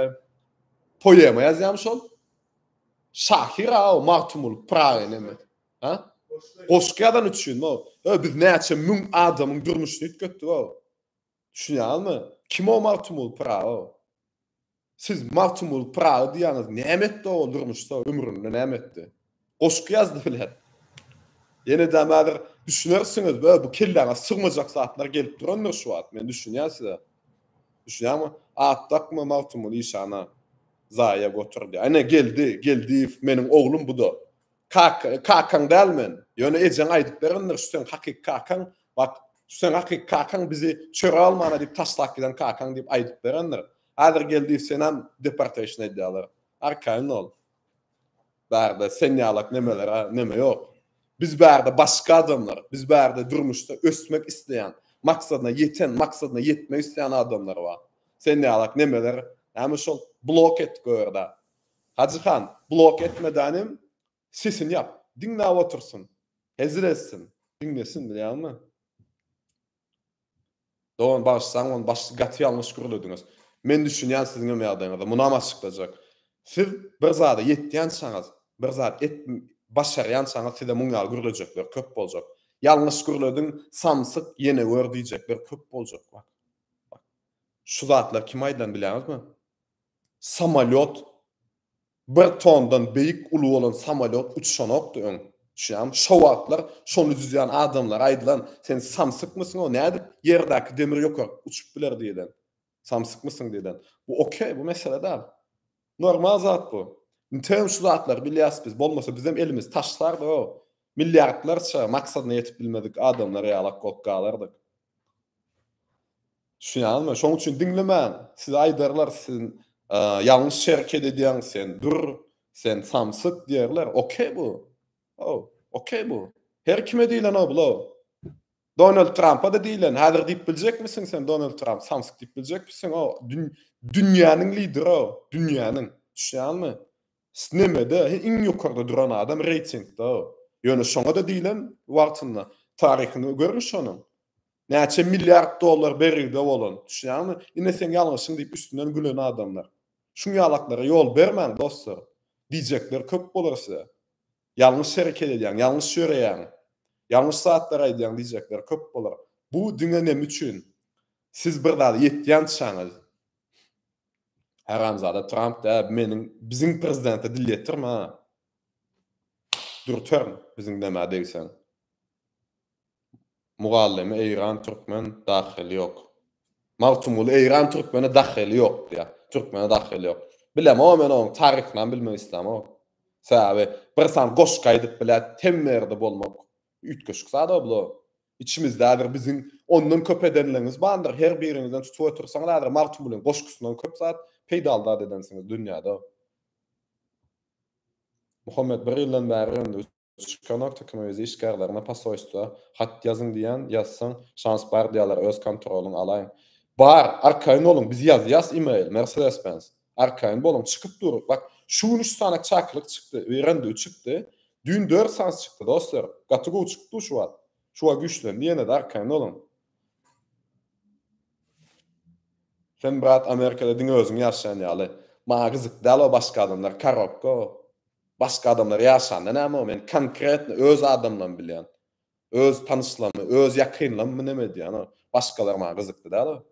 A: poema ýazýamy şol Şahyr-a o Magtymguly Pyragy näme? Ha? Goşgy ýazan üçinmi o? Hö, biz näçe müň adamyň durmuşyny üýtgetdik o. Düşünýäňizmi? Kim o Magtymguly Pyragy o? Siz Magtymguly Pyragy diýýäňiz, näme etdi o durmuşda, ömründe näme etdi? Goşgy ýazdy bilen. Ýene-de häzir düşünersiňiz, hö, bu kelläňe sygmajak zatlar gelip durandyr şu wagt, men düşünýän size. Düşünýäňmi? At dakma Magtymguly işana. Zaýa goturdy. Ene, Geldi, Geldiýew meniň oglum bu-da. Kaka, kakaň däl men. Ýöne ejeň aýdyp berendir, şu seň hakyky kakaň, wak, şu seň hakyky kakaň bizi çöre almana diýip taşlap giden kakaň diýip aýdyp berendir. Häzir Geldiýew senäm deportation edýärler. Arkaýyn bol. Bärde sen ýalak nemelere neme ýok. Biz bärde başga adamlar, biz bärde durmuşda ösmek isleýän, maksadyna ýeten, maksadyna ýetmek isleýän adamlar bar. Sen ýalak nemeler näme şol blok et görde. Hajy han, blok etmedän hem sesini ýap. Diňläp otursyn. Hezil etsin. Diňlesin bilýäňmi. Dogan bagyşsaň ony başda gaty ýalňyş gürlediňiz. Men düşünýän siziňem ýagdaýyňyzy munam açyklajak. Siz bir zada ýetýänçaňyz, bir zat et başarýançaňyz size muň ýaly gürlejekler köp boljak. Ýalňyş gürlediň samsyk ýene gör diýjekler köp boljak bak. Bak. Şu zatlar kime aýdylan bilýäňizmi? Samolýot Bir tondan beýik uly bolan samolýot uçuşanokdy öň. Düşýäňmi? Şo wagtlar şony düzýän adamlara aýdylan, Sen samsykmysyň-ow, nädip ýerdäki demir ýokaryk uçup biler diýlen. Samsykmysyň diýlen. Bu okey, bu mesele däl. Normal zat bu. Nitekim şu zatlary bilýäs biz. Bolmasa bizem elimizi taşlardyg-ow. Milliardlarça maksadyna ýetip bilmedik adamlar ýalak bolup galardyk. Düşünýäňizmi? Şonuň üçin diňlemäň. Size aýdarlar, siz ýalňyş hereket edýäň, sen dur, sen samsyk diýerler. Okey bu. How, okey bu. Her kime diýlen o bula. Donald Trump-a-da diýlen. Häzir diýip biljekmisiň sen Donald Trump samsyk diýip biljekmisiň? O dünýäniň lideri, dünýäniň. Düşünýäňizmi? Nemede iň ýokarda duran adam reýtingde. Ýöne şoňa-da diýlen wagtynda. Taryhyny görüň şonuň. Näçe milliard dollar bergide bolan, düşýäňmi? Ine seň ýalňyşyň diýip üstünden gülen adamlar. Şuň ýalaklara ýol bermäň dostlar. Diýjekler köp bolar size. Ýalňyş hereket edýäň, ýalňyş ýöreýäň. Ýalňyş zatlary aýdýaň diýjekler köp bolar. Bu diňe neme üçin? Siz bir zada ýetýänçäňiz. Haramzada Tramp dä meniň biziň prezidente dil ýetirme ha. Dürterin biziň nämä degseň. Mugallymy Eýran Türkmen dahyly ýok. Magtymguly Eýran Türkmene dahyly ýok diýýär. Türkmene dahyly ýok. Bilemok men oň taryhynam bilmek islämok. Sebäbi bir san goşgy aýdyp biläýip hemme ýerde bolmak üýtgeşik zada bular. Içimizde häzir biziň ondan köp edenlerimiz bandyr. Her biriňizden tutup otursaňyz häzir Magtymgulyň goşgusyndan köp zat peýdaly zat edensiňiz dünýäde. Muhammet bir ýyldan bäri Çykanak tökümi öz işgärlerine posoýstwa hat ýazyň diýýän, ýazsaň, şans bar diýýärler, öz kontrolyňy alaýyň. Bar, arkaýyn boluň, biz ýazýas email, Mercedes Benz. Arkaýyn boluň, çykyp dur, bak, şu gün üç sany çakylyk çykdy, öýren düw çykdy, düýn dört sans çykdy, dostlar, gaty gowy çykdy-u şu wagt, şu wagt güýçlendi ýene-de, arkaýyn boluň. Sen brat Amerikada diňe özüň ýaşaýan ýaly. Maňa gyzyk däl o başga adamlar, karobka o. Başga adamlar ýaşanda näme bor? Men konkretno öz adamlarymy bilýän. Öz tanyşlarymy, öz ýakynlarymmy neme edýän? Başgalar maňa gyzykly däl.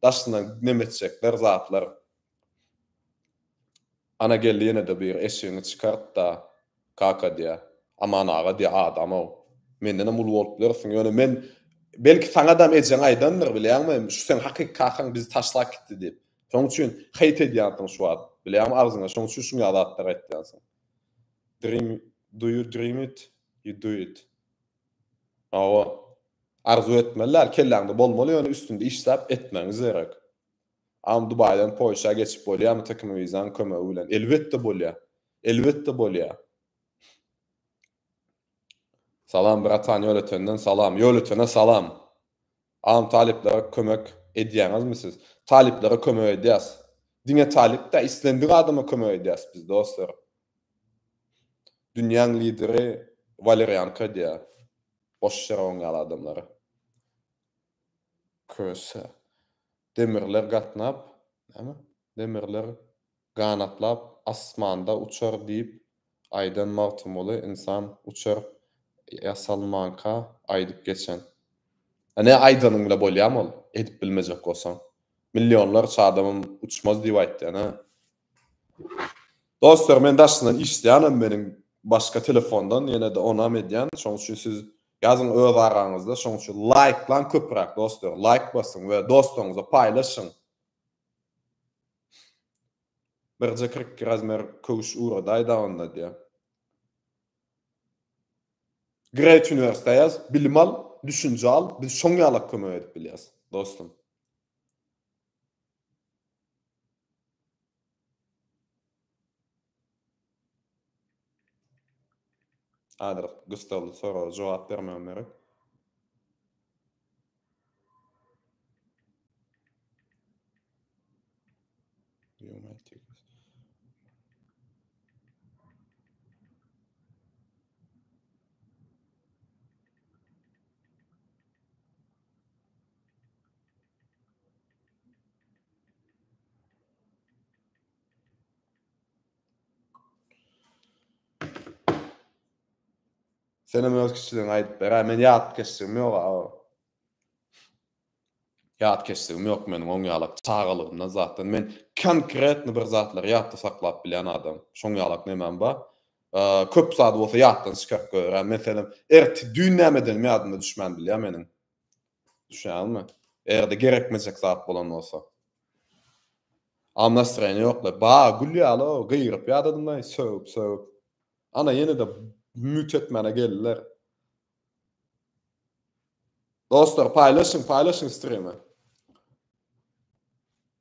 A: Daşyndan neme etjekler zatlar. Ana geldi ýene-de bu ýere eşigiňi çykart-da, kaka diýýä. Aman aga diýýä adam-ow. Mendenem uly bolup bilersiň. Ýöne men belki saňadam ejeň aýdandyr, bilýäňmi? Şu seň hakyky kakaň bizi taşlap gitdi diýip. Şoň üçin hate edýänsiň şu wagt. Bilýäň agzyňa şoň üçin şuňa zatlar aýtýansyň. Dream do you dream it? You do it. Hawa. Arzuw etmeli däl, kelläňde bolmaly ýöne üstünde işläp etmegiňiz gerek. Am Dubaýdan Polşa geçip bolýamy TKM wizaň kömegi bilen? Elbetde bolýa. Elbetde bolýa. Salam bratan ýöletenden salam ýöletene salam Aam talyplara kömek edýäňizmi siz talyplara kömek edýäs diňe talyp däl islendik adama kömek edýäs biz dostlar dünýäň lideri walerianka edýä boş ýere oň ýaly adamlara köse demirler gatnap näme demirler Ganatlap asmanda uçar diýip aýdan Magtymguly ynsan uçar ýasalmanka aýdyp geçen. Ine aýdanyň bile bolýamy ol edip bilmejek bolsaň. Millionlarça adamym uçmaz diýip aýtdy ene. Dostlar men daşyndan işleýänem meniň başga telefondan ýenede onam edýän şoň üçin siz ýazyň öz araňyzda şoň üçin laýklaň köpüräk dostlar laýk basyň we dostaňyza paýlaşyň. Birje kyrk iki razmer köwüş uradaý da onda diýä. Great Universe ýaz, bilim al, düşünje al, biz şoň ýalak kömek edip bilýäs, dostum. Häzir gyssagly soraga jogap bermegim gerek. Senem öz kiçiligini aýdyp ber-ä, men ýat geçjigim ýok aw. Ýat geçjigim ýok meniň oň ýalak çagalygymdan zatdan men konkretno bir zatlary ýatda saklap bilýän adam. Şoň ýalak nemem bar. Köp zady bolsa ýatdan çykaryp goýarýan. Meselem, ertir düýn näme edenim ýadyma düşmän bilýä meniň. Düşünýäňizmi? Eger-de gerekmejek zat bolan bolsa. A nastroýeniýa ýoklaý. Ba, gül ýaly o, gygyryp ýadadymy, sögüp, sögüp. Ana ýene-de mute etmäne geldiler. Dostlar, paýlaşyň, paýlaşyň strimi.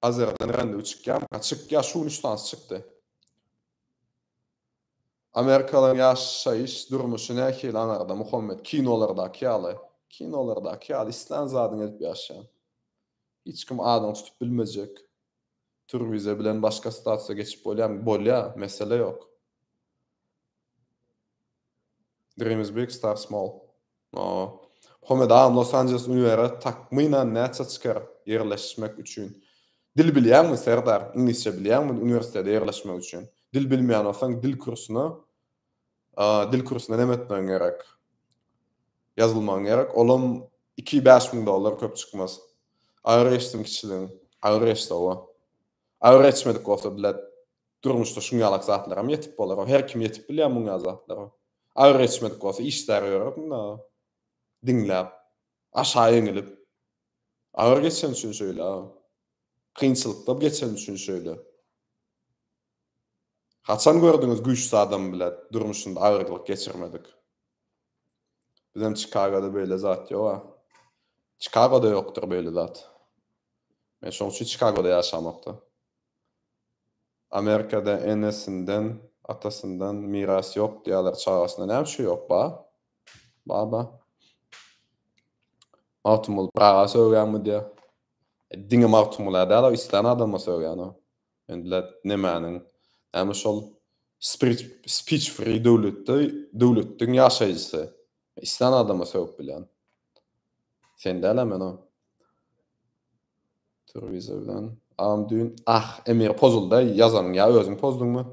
A: Azerden rendi uçykýam, çykýa, şu gün üç tans çykdy. Amerikalyň ýaşaýyş durmuşy nähili aňarda Muhammet kinolardaky ýaly kinolardaky ýaly islän zadyňy edip ýaşaýaň. Hiç kim adyňy tutup bilmejek. Turwize bilen başga statusa geçip bolýamy? Bolýa, mesele ýok. Dream is big, start small. Homedam Los Anjeles uniwere takmynan näçe çykyr ýerleşmek üçin? Dil bilýäňmi Serdar? Iňlisçe bilýäňmi uniwersitete ýerleşmek üçin? Dil bilmeýän bolsaň dil kursuna dil kursuna näme etmegiň gerek? Ýazylmagyň gerek. Olam iki bäş müň dollar köp çykmaz. Agyr geçsin kiçiligiň. Agyr geçdi owa. Agyr geçmedik bolsa bilet Durmuşda şuň ýalak zatlaram ýetip bolar-ow. Her kim ýetip bilýär muň ýaly zatlara. Agyr geçmedik bolsa işdäri ýörerdim-dä diňläp, aşa eňilip. Agyr geçeni üçin şeýle-ä. Kynçylykda geçeni üçin şeýle. Haçan gördüňiz güýçli adam bile durmuşynda agyrlyk geçirmedik? Bizem Çikagoda beýle zat ýog-a. Çikagoda ýokdur beýle zat. Men şoň üçin Çikagoda ýaşamok-da. Amerikada enesinden atasyndan miras ýok diýýäler çagasynda näme üçin ýok ba ba ba Magtymguly pyraga sögýäňmi diýýä e, diňe Magtymguly däl o islän adama sögýän o endile nemäniň näme şol speech free döwletde döwletdiň ýaşaýjysy islän adama sögüp bilýän sen däl men o Telewizordan am düýn ah Emir pozulda ýazanyň ýa özüň pozduňmy?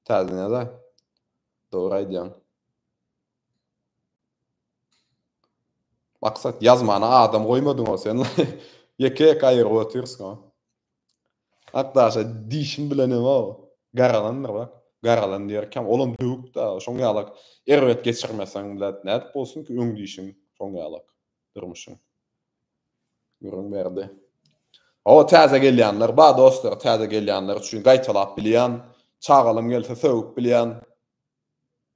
A: Täzeden ýaza. Dogry aýdýaň. Maksat ýazmana adam goýmadyňow sen ýeke ýeke aýyryp otyrsyňow. Akdaşa diýşim bilenemok. Garalandyr bak. Garalan diýerkäm olam döwük da şoň ýalak erbet geçirmeseň blat nädip bolsun ki öň diýşiň şoň ýalak. Durmuşyň. Gürrüň berdi. Hawa täze gelýänler bar dostlar, täze gelýänler üçin gaýtalap bilýän, çagalym gelse sögüp bilýän.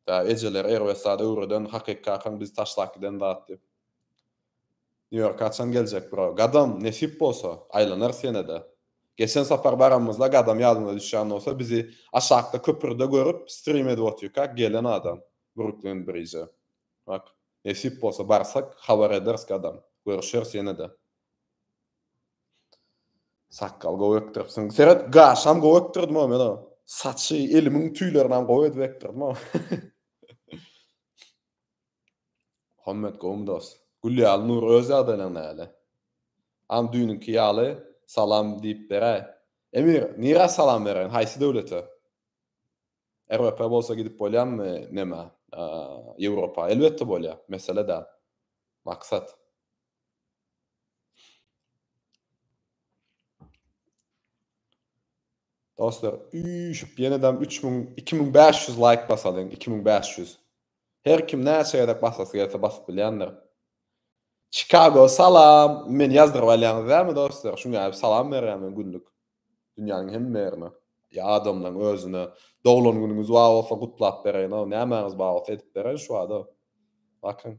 A: Tä ejeler erbet zat öwreden, hakyky kakaň bizi taşlap giden zat diýip. New York haçan geljek bro? Gadam, nesip bolsa, aýlanarys ýene-de. Geçen sapar baranymyzda Gadam ýadyňyza düşýän bolsa bizi aşakda köprüde görüp stream edip otyrkak gelen adam Brooklyn Bridge. Ak. Nesip bolsa barsak habar ederis gadam. Görüşeris ýene-de. Sakgal gowy ekdiripsiň. Seret, gaşam gowy ekdirdim-ow men o. Saçy, elimiň tüýlerinem gowy edip ekdirdim-ow. Muhammet gowumy dos? Gül ýaly Nur öz ýagdaýlaň näle? Am düýnüňki ýaly salam diýip beräý. Emir, nirä salam bereýin, haýsy döwlete? RWP bolsa gidip bolýamy neme Ýewropa? Elbetde bolýar, mesele däl. Maksat. Dostlar, üýşüp ýenedem üç müň, iki müň bäş ýüz laýk basalyň, iki müň bäş ýüz. Her kim näçe gezek basasy gelse basyp bilýändir. Çikago salam. Meni ýazdyryp alýaňyz dämi dostlar? Şuňa hem salam berýän men günlük. Dünýäniň hemme ýerine. Ýa adamlaň özüne. Doglan günüňiz bar bolsa gutlap bereýin-ow. Nämäňiz bar bolsa edip bereýin şubada. Bakyň.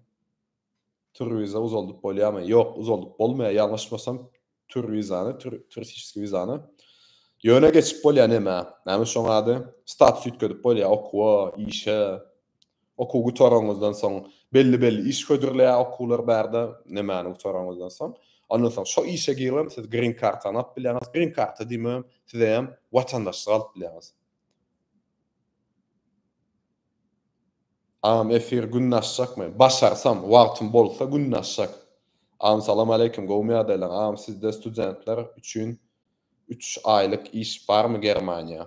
A: Tur wiza uzaldyp bolýamy? Ýok, uzaldyp bolmaýar. Ýalňyşmasam tur wizany, turistişeskiý wizany ýöne geçip bolýar nämä? Näme şoň ady? Status üýtgedip bolýar okuwa, işe. Okuw gutaranyňyzdan soň belli-belli iş hödürleýär okuwlar barda, nämäni gutaranyňyzdan soň. Ondan soň şo işe giribem siz green kartany alyp bilýäňiz. Green karta diýmem, siz hem watandaşlyk alyp bilýäňiz. Agam efir günde açjakmy. Başarsam, wagtym bolsa günde açjak. Agam salam aleýkum gowmy ýagdaýlaň agam sizde studentler üçin üç aýlyk iş barmy germaniýa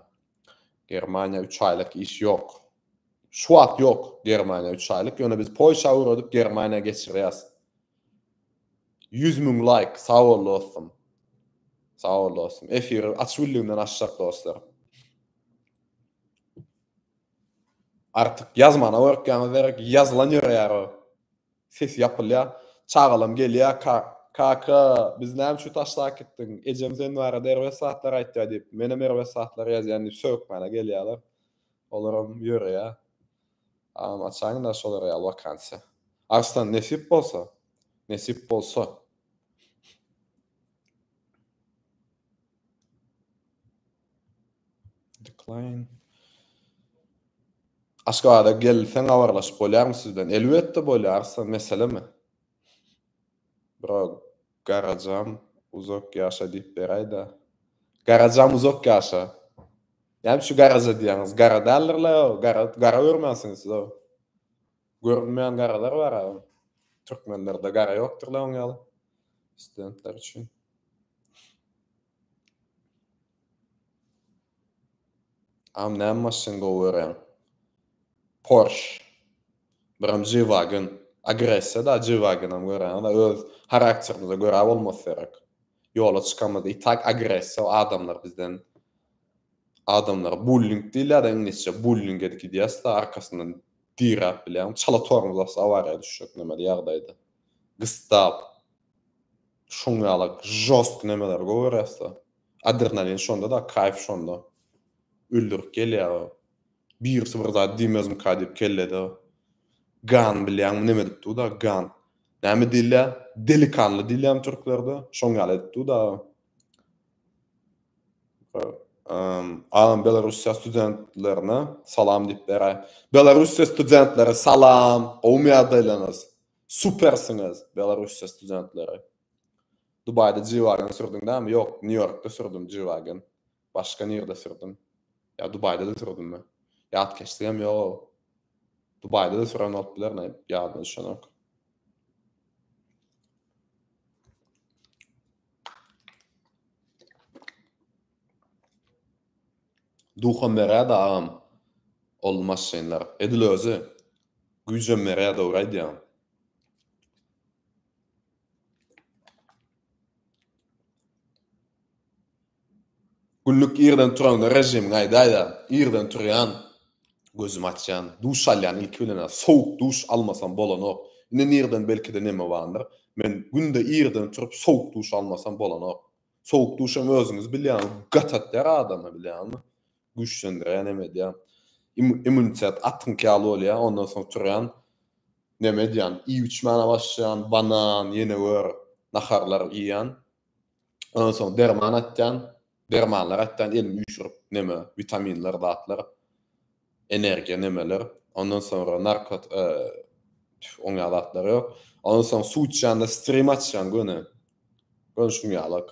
A: germaniýa üç aýlyk iş ýok şu wagt ýok germaniýa üç aýlyk ýöne biz polşa öwredip germaniýa geçirýäs ýüz müň laýk sag bol dostum sag bol dostum efiri açybildigimden açjak dostlar Artyk ýazmana gorkýaňyz derek ýazylan ýöreýär o. Ses ýapylýar. Çagalam gelýär ka, Kaka, biz näme üçin taşlap äkitdiň? Ejem sen barada erbet zatlar aýtýar diýip, menem erbet zatlar ýazýan diýip sögükmäne gelýärler. Olaram ýöreýär. Agam açaýyňda şolar ýaly wakansiýa. Arslan, nesip bolsa. Nesip bolsa. Decline. Aşgabada gelseň habarlaşyp bolýarmy siz bilen? Elbetde bolýar, sen meselemi? Bro, garajam uzak ýaşa diýip beräýdä. Garajam uzak ýaşa. Näme şu garaja diýýäňiz? Gara däldir-le o, gara, gara görmänsiňiz siz o. Görünmeýän garalar bar a. Türkmenlerde gara ýokdur-le oň ýaly. Studentler üçin. Am näme maşyn gowy görýäň. Porş. Birem G-wagon. Agressiýa da G-wagonam görýän da öz harakterimize görä bolmasa gerek. Ýola çykamyzda i tak agressiýa adamlar bizden adamlar bulling diýilýär da iňlisçe bulling edip gidýäs da arkasyndan diräp bilýäňmi çala tormozasy awariýa düşjek nemeli ýagdaýda gysdap Şuň ýaly žostky nemeleri gowy görýäsda. Adrenalin şonda-da, kaýf şonda. Öldürip gelýär. Birisi bir zat diýmezmika diýip kellede gan bilýäňmi neme edip dur-da, gan. Näme diýilýär? Delikanly diýilýärmi türklerde? Şoň ýaly edip dur-da. Agam Belarussiýa studentlerine salam diýip beräý. Belarussiýa studentleri salam, gowymy ýagdaýlaryňyz? Supersiňiz Belarusýa studentleri. Dubaýda G-Wagon sürdüň dämi ýok New Ýorkda sürdüm G-Wagon başga nirde sürdüm ýa Dubaýdada sürdümmi ýat keşdigem ýoga Dubaýdada süren bolup biler näm ýadyma düşenok. Duham beräda agam ol maşynlar. Edil özi. Güýjem berýär dogry aýdýaň. Günlük irden turaňda režimiň aýdaýda irden turýan gözümi açýan duş alýan ilki bilen sowuk duş almasam bolanok indi nirden belkide neme bandyr men günde irden turup sowuk duş almasam bolanok Sowuk duşam özüňiz bilýäňiz, gat atýar adama bilýäňizmi? Güýçlendirýär, neme edýär. Immunitet atňyky ýaly bolýar, ondan soň turýan, neme edýän, iýip içmäne başlaýan, banan, ýenewür naharlar iýýän. Ondan soň derman atýan, dermanlar atýan, elini üýşürip, neme, witaminler, zatlar. energiýa nämeler ondan soňra narkot tüf oňýan zatlar ýok ondan soň suw içýanda strim açýaň göni göni şuň ýalak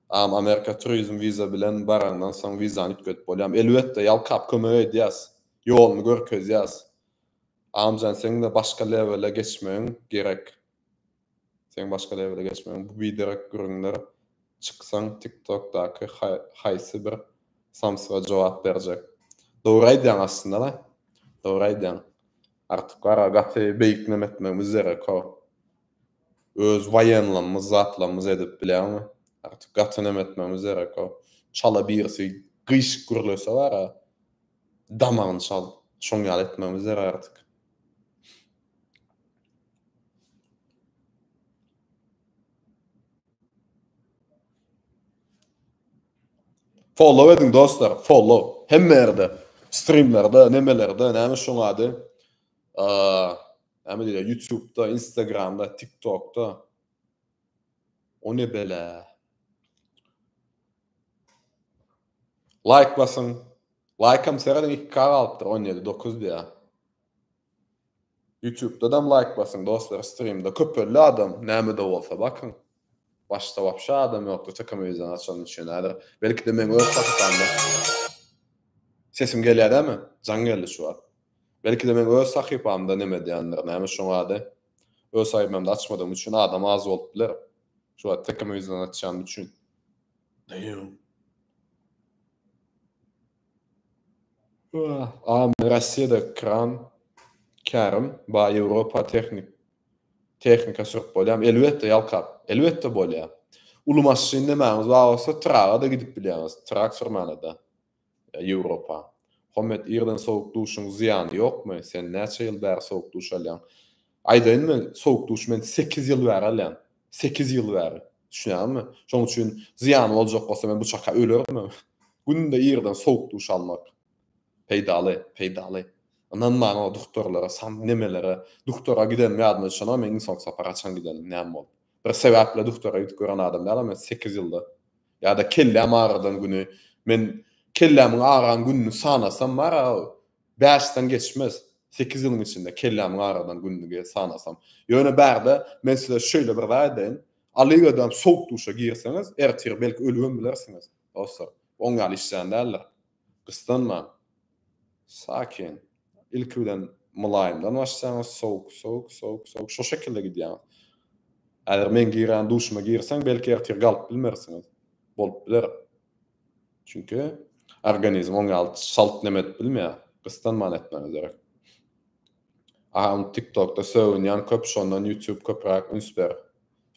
A: am amerika turizm wiza bilen baraňdan soň wizany üýtgedip bolýam elbetde ýalkap kömek edýäs ýoluny görkezýäs amjan seňde başga lewele geçmegiň gerek. Seň başga levele geçmegiň bu biderek gürrüňler çyksaň tiktokdaky haýsy bir samsyga jogap berjek. Dogry aýdýaň aslynda-da. Dogry aýdýaň. Artyk bar-a gaty beýik name etmegimiz derek-ow. Öz waýenlamyz zatlamyz edip bilýäňmi. Artyk gaty name etmegimiz derek-ow. Çala birisi gyşyk gürlese bar-a damagyny çal. Şoň ýaly etmegimiz derek artyk. Follow ediň dostlar, follow. Hemme ýerde. Streamlerde, nemelerde, näme şoň ady? Näme diýýär? YouTube-da, Instagram-da, TikTok-da. O ne bela? Like basyň. Like-am seredin 2K galypdyr, 17, 9 diýýär. Ýutubdadam laýk basyň dostlar strimde köp ölli adam nämede bolsa bakyň başda wapşe adam ýokdy tkomewizan açanyň üçin häzir belkide meň öz sahypamda sesim gelýä dämi jaň geldi şu wagt belkide meň öz sahypamda neme edýändir näme şoň ady öz sahypamda açmadygym üçin adam az bolup biler şu wagt tkomewizan açýan üçin. Am Rossiýada kran kärim ba Ýewropa tehnik tehnika sürüp bolýam elbetde ýalkap elbetde bolýa. Uly maşyn nämäňiz bar bolsa traga-da gidip bilýäňiz trak sürmäne-de Ýewropa. Hommet irden sowuk duşuň zyýany ýokmy sen näçe ýyl bäri sowuk duş alýaň. Aýdaýyn men sowuk duş men sekiz ýyl bäri alýan. Sekiz ýyl bäri. Düşünýäňmi? Şoň üçin zyýany boljak bolsa men bu çaka ölerin men. Günde irden sowuk duş almak. Peýdaly, peýdaly. Ynan maňa o duktorlara, san nemelere. Duktora gidenim ýadyma düşenok men iň soňky sapar haçan gidenim, näme bolup. Bir sebäple duktora gidip gören adam dälem men sekiz ýylda. Ýa-da kelläm agyrydan güni. Men kellämiň agyran gününi sanasam bar-a, Bäşden geçmez, sekiz ýylyň içinde kellämi garadan günlügi sanasam. Ýöne bärde men size şeýle bir zat aýdaýyn, Alyýewem sowuk duşa girseňiz, ertir belki ölübem bilersiňiz, dostlar. Oň ýaly işjeň däldir. Gyssanman, sakin, ilki bilen mylaýymdan başlaýaňyz, sowuk, sowuk, sowuk, sowuk, şo şekilde gidýäňiz. Häzir meň girýän duşuma girseň, belki ertir galyp bilmersiňiz. Bolup biler. Çünki organizm oň ýaly çalt neme edip bilmeýär. Gyssanman etmegi gerek. Aha indi TikTokda sögünýän köp şondan YouTube köpräk üns ber.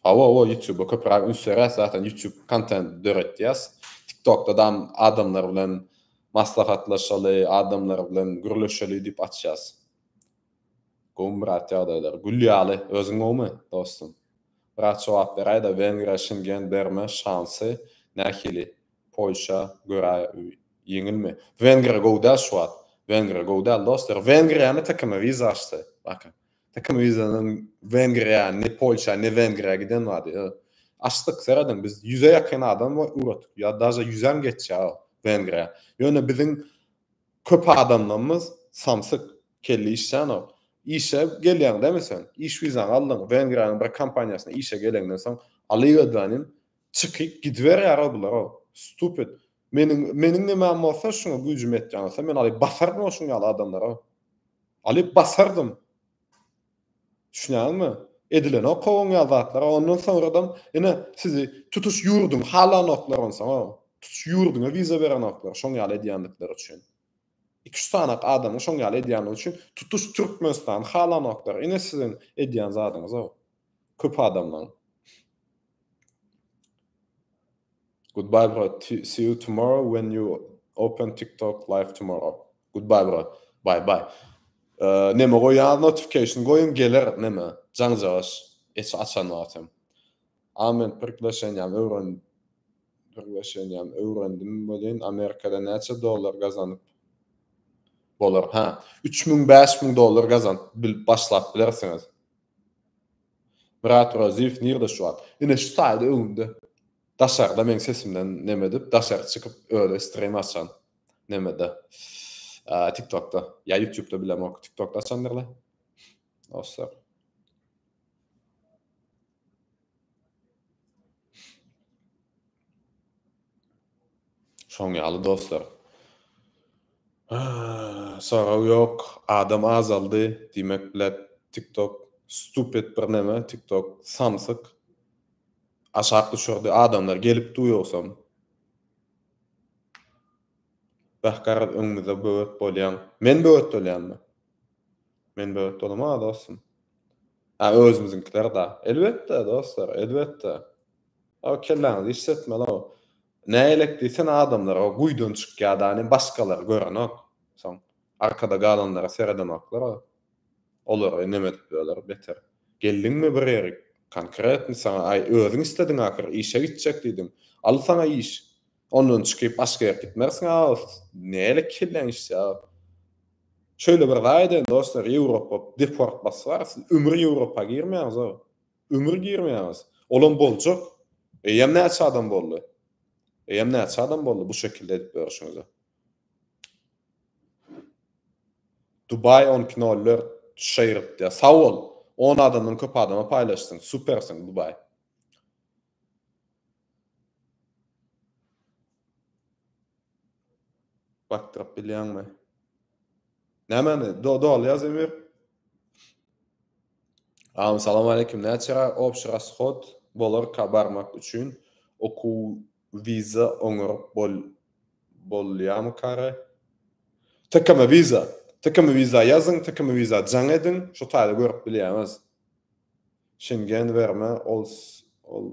A: Hawa hawa YouTube köpräk üns beräs zaten YouTube kontent döretýäs. TikTokda da adamlar bilen maslahatlaşaly, adamlar bilen gürleşeli diýip açýas. Gowmy brat ýagdaýlar? Gül ýaly. Özüň gowmy, dostum? Brat jogap beräýdä Wengriýa Şengen berme şansy nähili? Polşa görä ýeňilmi? Wengriýa gowy däl şu wagt. Wengriýa gowy däl dostlar. Wengriýany tkm wiza açdy. Bakyn. Tkm wizanyň Wengriýa ne Polşa ne Wengriýa giden wady. Açdyk serediň biz ýüze ýakyn adam ugradyk. Ýa daže ýüzem geçýär Wengriýa. Ýöne biziň Köp adamlarymyz samsyk, kelle işlänok. Işe gelýäň dämi sen? Iş wizaňy aldyň, Wengriýanyň bir kompaniýasyna işe geleňden soň, alygödänim, çykyp gidiberýär-ow bular-ow. Stupid. Meniň, meniň nimäm bolsa, şuňa güýjüm ýetýän bolsa, men alyp basardym-ow şuň ýaly adamlary-ow. Alyp basardym. Düşünýäňizmi? Edilenok kowun ýaly zatlar, a ondan soňradam ine sizi tutuş ýurduň halanoklar onsoňam. Tutuş ýurduňa wiza berenoklar şoň ýaly edýändikleri üçin. Iki-üç sany adamyň şoň ýaly edýändigi üçin tutuş Türkmenistany halanoklar. Ine siziň edýän zadyňyz-ow. Köp adamlaň. Goodbye brat see you tomorrow when you open tiktok live tomorrow goodbye brat bye bye neme goýýaňyz notification goýuň geler neme jaňjagaş eç açan wagtam a men priglaşeniýam öwren priglaşeniýam öwrendim welin amerikada näçe dollar gazanyp bolar ha üç müň bäş müň dollar gazanyp bilip başlap bilersiňiz Myrat Oraziýew nirde şu wagt? Ine şu saýda öňümde daşarda meň sesimden neme edip daşary çykyp özi stream açan nemede tik tokda ýa ýutýubda bilemok tik tokda açandyrlar dostlar. Şoň ýaly dostlar. Soraw ýok, adam azaldy, diýmek blat tiktok stupid bir neme tiktok samsyk aşak düşürdi adamlar gelip du ýogsam. Beh garaz öňümize böwet bolýaň. Men böwet bolýanmy? Men böwet bolamana dostum. A özümiziňkiler da. Elbetde dostlar, elbetde. Aga kelläňizi işletmeli o. Nägelek diýsene adamlar o guýydan çykýadany başgalary görenok. Soň arkada galanlara seredenoklar a. Olary neme edip öler beter. Geldiňmi bir ýeri konkretny saňa aý özüň islediň ahyr işe gitjek diýdiň. Al saňa iş. Ondan çykyp başga ýere gitmersiň a nägelek kelläň işlýä aga. Şöýle bir zaýa edeýin dostlar ýewropa deport basyp ara siz ömür ýewropa girmeýäňiz aga. Ömür girmeýäňiz. Olam boljak. Eýýäm näçe adam boldy. Eýýäm näçe adam boldy bu şekilde edip berişiňize. Dubai 12.04 şeýripdi. Sag bol. 10 adamdan köp adama paýlaşdyň. Supersiň Dubai. Bakdyryp bilýäňmi? Nämemi? Doly ýaz Emir. Aw salam aleýkum näçerä obşi rashod bolarka barmak üçin okuw wiza oňaryp bol bolýamykary. Tkm wiza tkm wiza ýazyň tkm wiza jaň ediň şo taýda görüp bilýäňiz. Şengen berme ol ol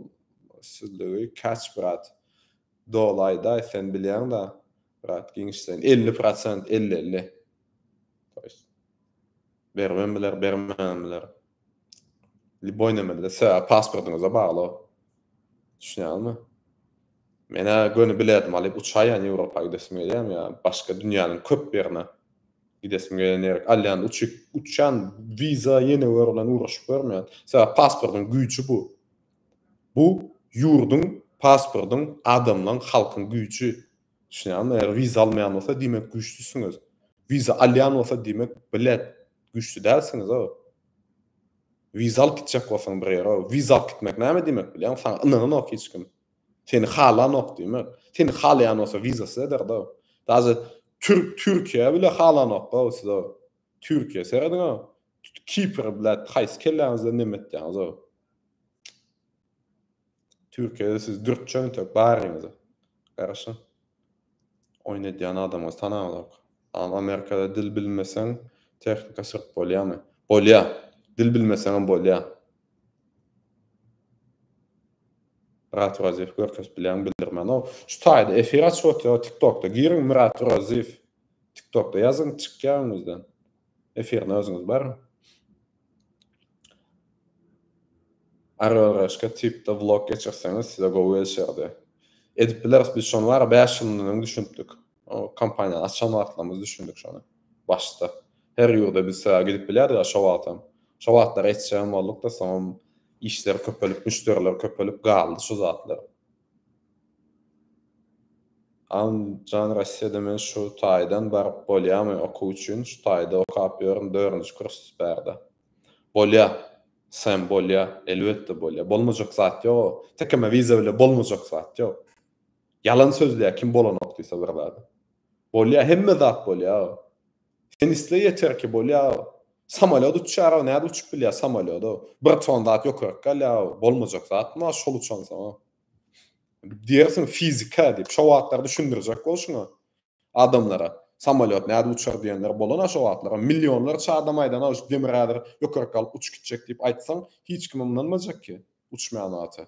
A: sizligi catch brat dolaýdaý sen bilýäňda brat giňişleýin elli prosent elli elli to ýest beribem biler bermem biler liboý nemede sebäbi pasportyňyza bagly o düşünýäňizmi menä göni biledim alyp uçaýýan ýewropa gidesim gelýämi ýa başga dünýäniň köp ýerine. Gidesim gelen ýere alýan uçup uçýan wiza ýene wer bilen ugraşyp görmeýän. Sebäp pasportyň güýji bu. Bu ýurduň pasportyň adamlaň halkyň güýji. Düşünýäňizmi? Eger wiza almaýan bolsa diýmek güýçlüsiňiz. Wiza alýan bolsa diýmek blet güýçli dälsiňiz o. Wiza alyp gitjek bolsaň bir ýere o. Wiza alyp gitmek näme diýmek bilýäňmi? Saňa ynananok hiç kim. Seni halanok diýmek. Seni halaýan bolsa wizasy ederdi-ow. Daže türk Türkiýä bile halanok-ow siz-ow. Türkiýä serediň-ow. Kipr blät haýsy kelläňizde neme etýäňiz-ow. Türkiýede siz dürtjeň tek baryňyz-a. Garaşyň. Oýun edýän adamyňyz tanalok. Aa Amerikada dil bilmeseň tehnika syryp bolýamy? Bolýa. Dil bilmeseňem bolýa. Myrat Oraziýew görkezip bilýän bildirmenow. Şu taýda efir açyp otyr tiktokda giriň Myrat Oraziýew tiktokda ýazyň çykýar öňüňizden. Efirini özüňiz baryň. RRHka tipde vlog geçirseňiz size gowy gelişerdi. Edip bileris biz şony bara bäş ýyl mundan öň düşünipdik. Kompaniýany açan wagtlarymyz düşündik şony. Başda. Her ýurda biz sebäbi gidip bilýärdik ya şo wagtam. Şo wagtlar etjegem boldukda soňam işler köpelip müşderiler köpelip galdy şu zatlar. Allamjan Rossiýada men şu taýdan baryp bolýamy okuw üçin şu taýda okap ýörün dörünji kurs bärde. Bolýa Sem bolýa elbetde bolýa bolmajak zat ýok o tekeme wiza bile bolmajak zat ýok ýalan sözleýä kim bolanok diýse bir zady bolýa hemme zat bolýa Sen isle ýeterki bolýa. Samolýot uçýara nädip uçup bilýä samolýoda. Bir ton zat ýokaryk galýa bolmajak zat ma şol uçansoň. Diýersiň fizika diýip şo wagtlar düşündirjek bol şuňa adamlara. Samolýot nädip uçar diýenler bolana şo wagtlar. Millionlarça adam aýdana şu demir häzir ýokaryk galyp uçup gitjek diýip aýtsaň hiç kim ynanmajak ki uçmaýan zata.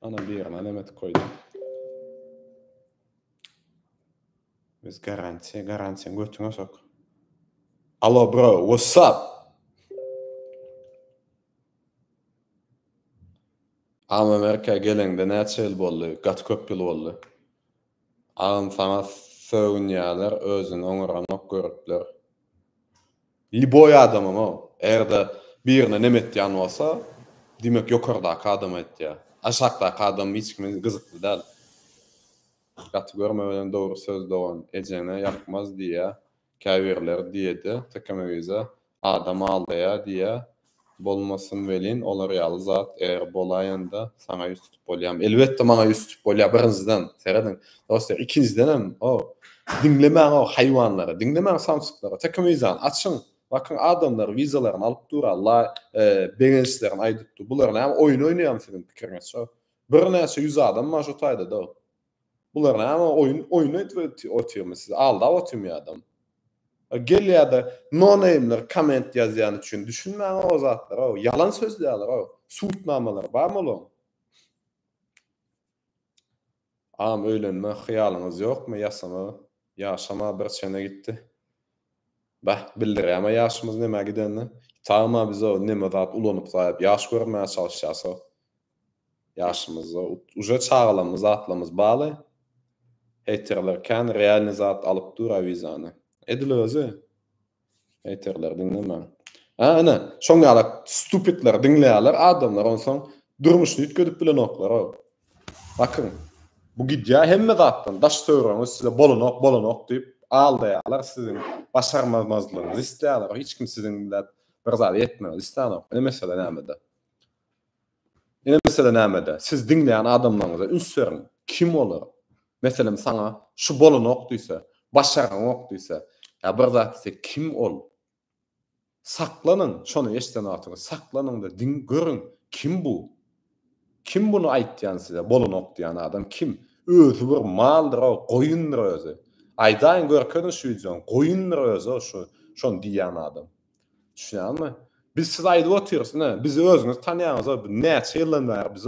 A: Ana bir ýerine näme etip goýdum. Biz garantiýa, garantiýa götüňe sok. Alo bro, what's up? Amerika geleňde näçe ýyl boldy? Gaty köp ýyl boldy. Agam saňa sögünýäler özüni oňaranok göripler. Liboý adamam o. Eger-de birine nem etýän bolsa, diýmek ýokardaky adama etýär. Aşakdaky adam hiç kime gyzykly däl. Gaty görme welin dogry söz dogan, ejeňe ýakmaz diýýär. Käbirleri diýedi, Tekemewiza adam aldaýar diýýä. Bolmasyn welin, olar ýaly zat eger bolaýanda, saňa ýüz tutup bolýamy? Elbetde, maňa ýüz tutup bolýar, birinjiden, serediň, dostlar, ikinjidenem, o, diňlemäň o haýwanlary, diňlemäň samsyklary, Tekemewizany açyň, bakyň, adamlar wizalaryny alyp dur, la, begençlerini aýdyp dur, bular näme, oýun oýnaýarmy siziň pikiriňizçe? Birnäçe ýüz adam bar şu taýda-da, Bular name oýun oýun edip otyrmy siz aldap otyrmy adam. Gelýärde no name'ler komment ýazýan üçin düşünmäňa o zatlara ýalan sözleýärler o sud namalary barmy olaň. Agam öýlenme hyýalyňyz ýokmy ýasama ýaşama bir çene gitdi. Bäh bildirýärmä ýaşymyz nämä gidenini. Ýitagma biz o neme zat ulanyp zaýap ýaş görünmäge çalyşýas o. Ýaşymyzda uje çagalamyz zatlamyz baly heýterler kän realny zat alyp dur a wizany. Edil özi. Heýterleri diňlemäň. Hä ine şoň ýalak stupidleri diňleýäler adamlar onsoň durmuşyny üýtgedip bilenoklaroo. Bakyň bu gidýä hemme zatdan daş töwregiňiz size bolanok bolanok diýip aldaýalar siziň başarmazmazlygyňyzy isleýäler hiç kim siziň bilat bir zada ýetmegini islänok ine mesele nämede. Ine mesele nämede, siz diňleýän adamlaryňyza üns beriň, kim olar? Meselem saňa şu bolanok diýse, başaraňok diýse, ýa bir zat diýse, kim ol? Saklanyň, şony eşden wagtyňyz saklanyňda diň görüň, kim bu? Kim buny aýtýan size, bolanok diýýän adam kim? Özi bir maldyr-ow, goýundyr özi. Aýdaýyň görkeziň şu wideony, goýundyr özi-ow şu, şony diýýän adam. Düşünýäňizmi? Biz siz aýdyp otyrys, ine, bizi özüňiz tanýaňyz, näçe ýyldan bäri biz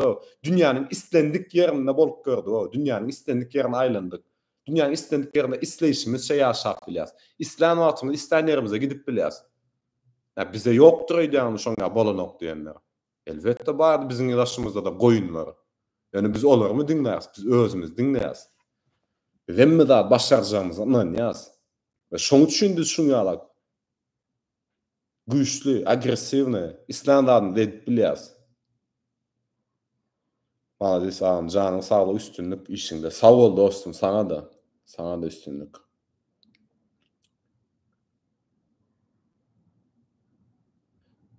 A: dünýäniň islendik ýerinde bolup gördük, dünýäniň islendik ýerine aýlandyk. Dünýäniň islendik ýerinde isleýşimizçe ýaşap bilýäs. Islän wagtymyz islän ýerimize gidip bilýäs. Ýa bize ýokdur öýdýäňizmi şoň ýa bolanok diýenler. Elbetde bardy biziň daşymyzda-da goýunlar. Ýöne biz olarmy diňläris, biz özümizi diňleýäs. Biz hemme zady başarjagymyza ynanýas we şoň üçin biz şuň ýala güýçli, agressiwny, islän zadyny edip bilýäs. Maladis agam janyň saglyk üstünlik işiňde. Sag bol dostum saňa-da. Saňa-da üstünlik.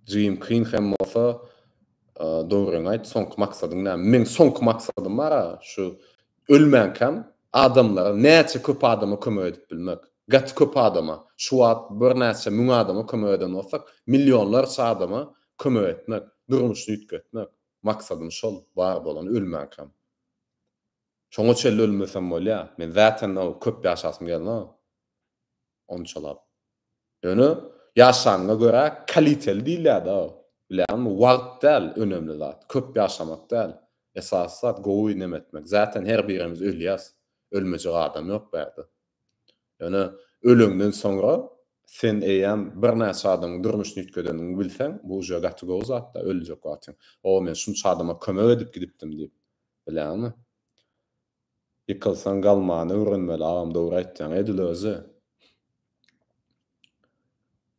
A: Jigim kyn hem bolsa dogryňy aýt soňky maksadyň näme? Meň soňky maksadym bar aga şu ölmänkäm adamlara näçe köp adama kömek edip bilmek. Gaty köp adama şu wagt birnäçe müň adama kömek eden bolsak millionlarça adama kömek etmek durmuşyny üýtgetmek. Maksadym şol, bar bolan ölmänkam. Şoňa çenli ölmesem bolýa. Men zatenda köp ýaşasym gelmag. Onçalap. Ýöne ýaşanyňa görä kaliteli diýilýä-da. Bilýäňmi, wagt däl önemli zat, köp ýaşamak däl. Esasy zat gowy nemetmek. Zaten her birimiz ölýäs. Ölmejek adam ýok bu ýerde. Ýöne öleňden soňra sen eýýäm birnäçe adamyň durmuşyny üýtgedeniňi bilseň, bu uje gaty gowy zat-da, öljek wagtyň, O, men şunça adama kömek edip gidipdim diýip bileňmi? Ýykylsaň galmany öwrenmeli, agam dogry aýtýaň, edil özi.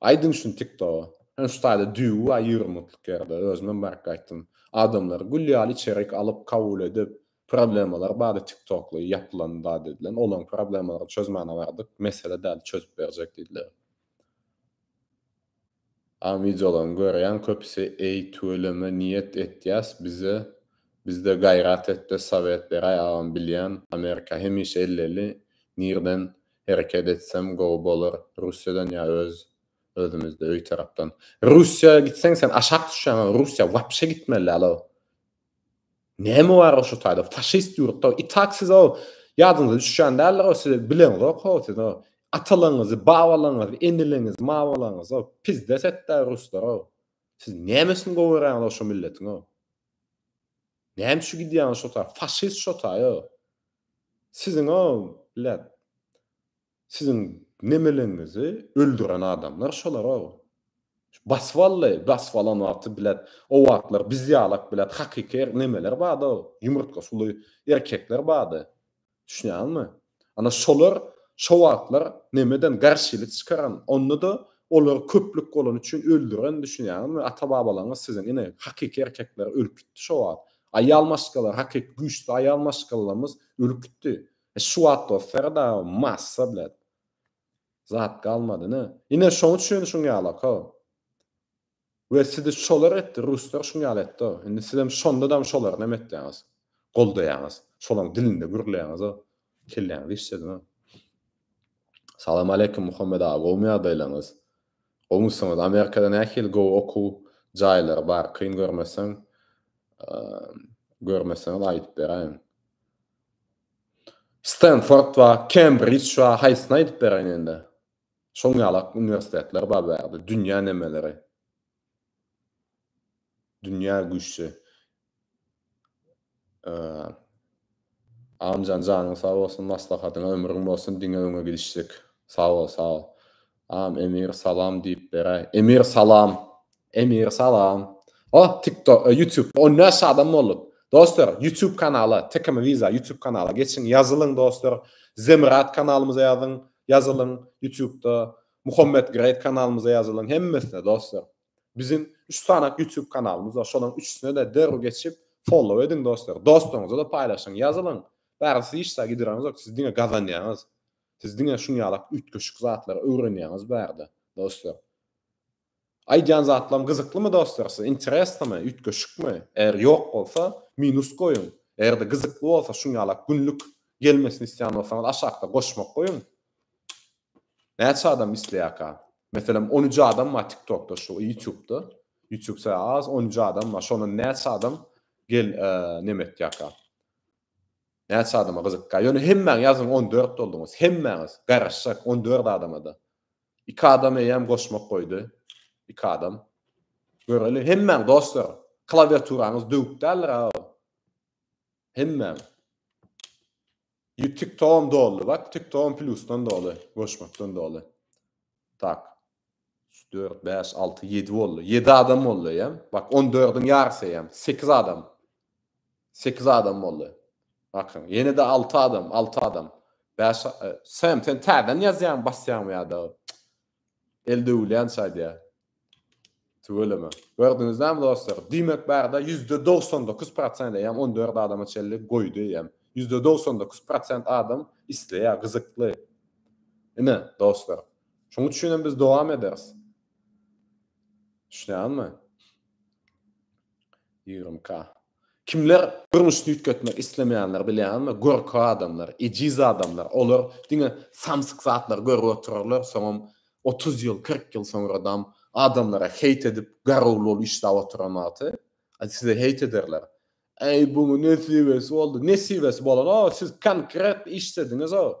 A: Aýdyň şuny tiktoga. Ýöne şu taýda düýbi bar ýüwrüm mutluk ýerde özümem baryp gaýtdym. Adamlary gül ýaly içerik alyp kabul edip problemalary bardy tiktokly ýapylan zat edilen olaň problemalaryny çözmäne bardyk mesele däl çözüp berjek diýdiler. Aň wideolaryny görýän köpüsi eý tüweleme niýet etýäs bize bizde gaýrat etde sowet beräý agam bilýän amerika hemişe elleli nirden hereket etsem gowy bolar russiýadan ýa öz özümizde öý tarapdan russiýa gitseň sen aşak düşýäň a russiýa wapşe gitmeli däl ow näme bar ow şu taýda faşist ýurtda i tak siz ow ýadyňyza düşýän däldir ow siz bileňzok ow siz ow atalaňyzy babalaňyzy eneleňizi mabalaňyzy ow pizdes etdä ruslar ow siz nämesini gowy görýäňiz ow şu milletiň ow näme üçin gidýäňiz şo taý faşist şo taý ow Siziň-ä leb. Siziň nemeleňizi öldüren adamlar şolar-a. Bas wally, bas balan wagty bilet. O wagtlar biz ýalak bilet hakyky er nemeler bar-da, ýumurtga suly erkekler bardy. Düşünýäňmi? Ana şolar şo wagtlar nemeden garşylyk çykaran, onda-da olary köplük bolany üçin öldüren, düşünýäňizmi? Ata-babalaňyz siziň ine hakyky erkekler ölüp gitdi şo wagt. Aýal maşgala, hakyky güýçli aýal maşgalamyz ürkütdi. Şu wagt bolsa dagy massa blet. Zat galmady ine. Ine şoň üçin şuň ýalaka. We sizi şolar etdi, ruslar şuň ýaly etdi. Indi sizem şonda dam şolary näme etýäňiz? Goldaýaňyz. Şolaň dilinde gürleýäňiz. Kelläňizi işlediň. Salam aleýkum Muhammet aga gowmy ýagdaýlaryňyz? Goňşyňyz Amerikada nähili gowy okuw jaýlary bar kyn görmeseň görmeseňiz aýdyp beräýiň. Stenford bar, Kembrij bar, haýsyny aýdyp beräýin indi. Şoň ýalak uniwersitetler bar bärde, dünýä nemeleri. Dünýä güýçli. Agamjan janyň sag bolsun maslahatyňa ömrüň bolsun diňe öňe gidişlik sag bol sag bol Agam Emir salam diýip beräý Emir salam Emir salam Oh tiktok ýutubda on bäş adam bolduk Dostlar ýutub kanala Tekama Wiza ýutub kanala geçiň ýazylyň dostlar Zemyrat kanalymyza ýazyň ýazylyň ýutubda Muhammet Great kanalymyza ýazylyň hemmesine dostlar Biziň üç sany YouTube kanalymyz bar. Şolaryň üçüsine-de derrew geçip, follow ediň dostlar. Dostlaryňyza-da paýlaşyň, ýazylyň. Bärde siz hiç zat gidireniňiz ýok, siz diňe gazanýaňyz. Siz diňe şuň ýaly üýtgeşik zatlary öwrenýäňiz bärde, dostlar. Aýdýan zatlarym gyzyklymy dostlar size? Interesnomy? Üýtgeşikmi? Eger ýok bolsa, minus goýuň. Eger-de gyzykly bolsa, şuň ýalak günlük gelmesini isleýän bolsaňyz, aşakda goşmak goýuň. Näçe adam isleýärka? Meselem on üç adam bar tiktokda şu ýutubda. Ýutub se az on üç adam bar. Şondan näçe adam gel neme etýärka? Näçe adama gyzykýar? Ýöne hemmäň ýazyň on dört bolduňyz. Hemmäňiz garaşjak on dört adama-da. Iki adam eýýäm goşmak goýdy. Iki adam. Göreli hemmäň dostlar. Klawiaturaňyz döwük däldir aga. Hemmäň. Ýük TikTok'um doldy bak TikTok'um plusdan doly goşmakdan doly. Tak. Üç dört bäş alty ýedi boldy. Ýedi adam boldy eýem. Bak on dördiň ýarysy eýem. Sekiz adam. Sekiz adam boldy. Bakyň ýene-de alty adam alty adam. Bäş e, Sam sen täzeden ýazýaň basýaňmy ýa-da el döwülýänçä aýdýa. Tüweleme. Gördüňizlämi dostlar? Diýmek barada ýüzde dogsan dokuz prosent eýýäm on dört adama çenli goýdy eýýäm. Ýüzde dogsan dokuz prosent adam isleýär, gyzykly. Ine, dostlar. Şonuň üçin hem biz dowam ederis. Düşünýäňizmi? Ýigrimi k. Kimler durmuşda üýtgetmek islemeýänler bilýäňizmi? Görki adamlar, ejiz adamlar. Olar diňe samsyk zatlary görüp oturarlar, soňam otuz ýyl, kyrk ýyl soňradam adamlara heýt edip, garawul bolup işläp oturan wagty size heýt ederler. Äý, buň nesibesi boldy. Nesibesi bolan-ow, siz konkret işlediňiz-ow.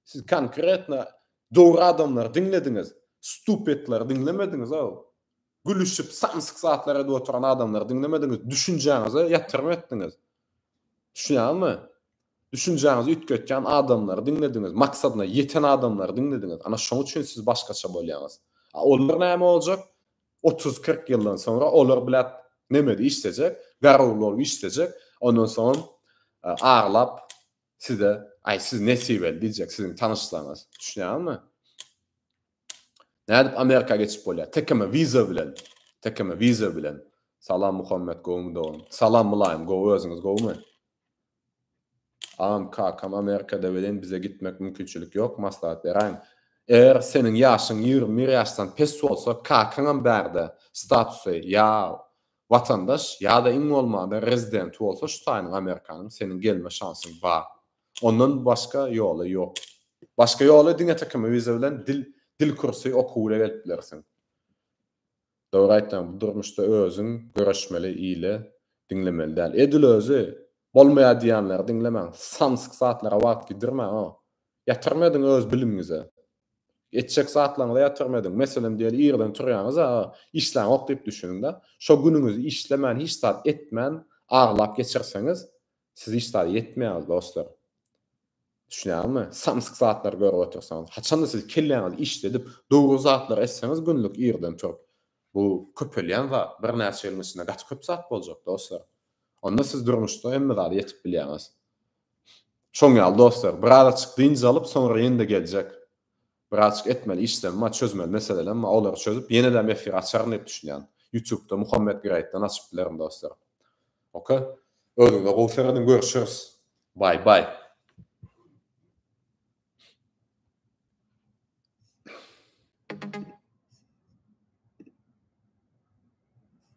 A: Siz konkretno dogry adamlary diňlediňiz, stupetleri diňlemediňiz ow. Gülüşip samsyk zatlar edip oturan adamlary diňlemediňiz, düşünjäňize ýatyrym etdiňiz. Düşünýäňizmi? Düşünjäňizi üýtgetýän adamlary diňlediňiz, maksadyna ýeten adamlary diňlediňiz. Ana şoň üçin siz başgaça bolýaňyz. A olar näme boljak? Otuz, kyrk ýyldan soňra olar biläp nemedi işlejek, garawul bolup işlejek, ondan soň e, aglap Size, aý siz nesibeli diýjek siziň tanyşlaryňyz. Düşünýäňizmi? Nädip Amerika geçip bolýar? Tekeme wiza bilen. Tekeme wiza bilen. Salam Muhammed gowmy dogum. Salam Mylaýym gowy özüňiz gowmy? Am kakam Amerikada welin bize gitmek mümkinçilik ýok maslahat beräýiň. Eger seniň ýaşyň 21 ýaşdan pes bolsa kakaňam bärde statusy ýa Watandaş ýa-da iň bolmanda rezidenti bolsa şu taýynyň Amerikanyň seniň gelme şansyň bar. Ondan başga ýoly ýok. Başga ýoly diňe tkm wiza bilen dil dil kursy okuw ile gelip bilersiň. Dogry aýtýaň bu durmuşda özüň göreşmeli ile diňlemeli däl. Edil özi bolmaýar diýýänleri diňlemäň. Samsyk zatlara wagt gidirmäň o. Ýatyrma edin öz bilimiňize. Etjek zatlaryňyza ýatyrym ediň. Meselem diýeli irden turýaňyz a işläňok diýip düşüniňdä. Şo günüňizi işlemän hiç zat etmän aglap geçirseňiz siz hiç zada ýetmeýäňiz dostlar. Düşünýäňizmi? Samsyk zatlary görüp otyrsaňyz. Haçanda siz kelläňizi işledip dogry zatlary etseňiz günlük irden turup bu köpelýän zat birnäçe ýylyň içinde gaty köp zat boljak dostlar. Onda siz durmuşda hemme zada ýetip bilýäňiz. Şoň ýaly dostlar, biraz açyk dynç alyp, soňra ýene-de geljek. Bir açyk etmeli işlerim bar, çözmeli meselelerim bar, olary çözüp, ýene-däm efir açaryn diýip düşünýän. Ýutubda Muhammet Greatden açyp bilerin dostlar. Ok. Özüňize gowy serediň, görüşeris. Bye bye.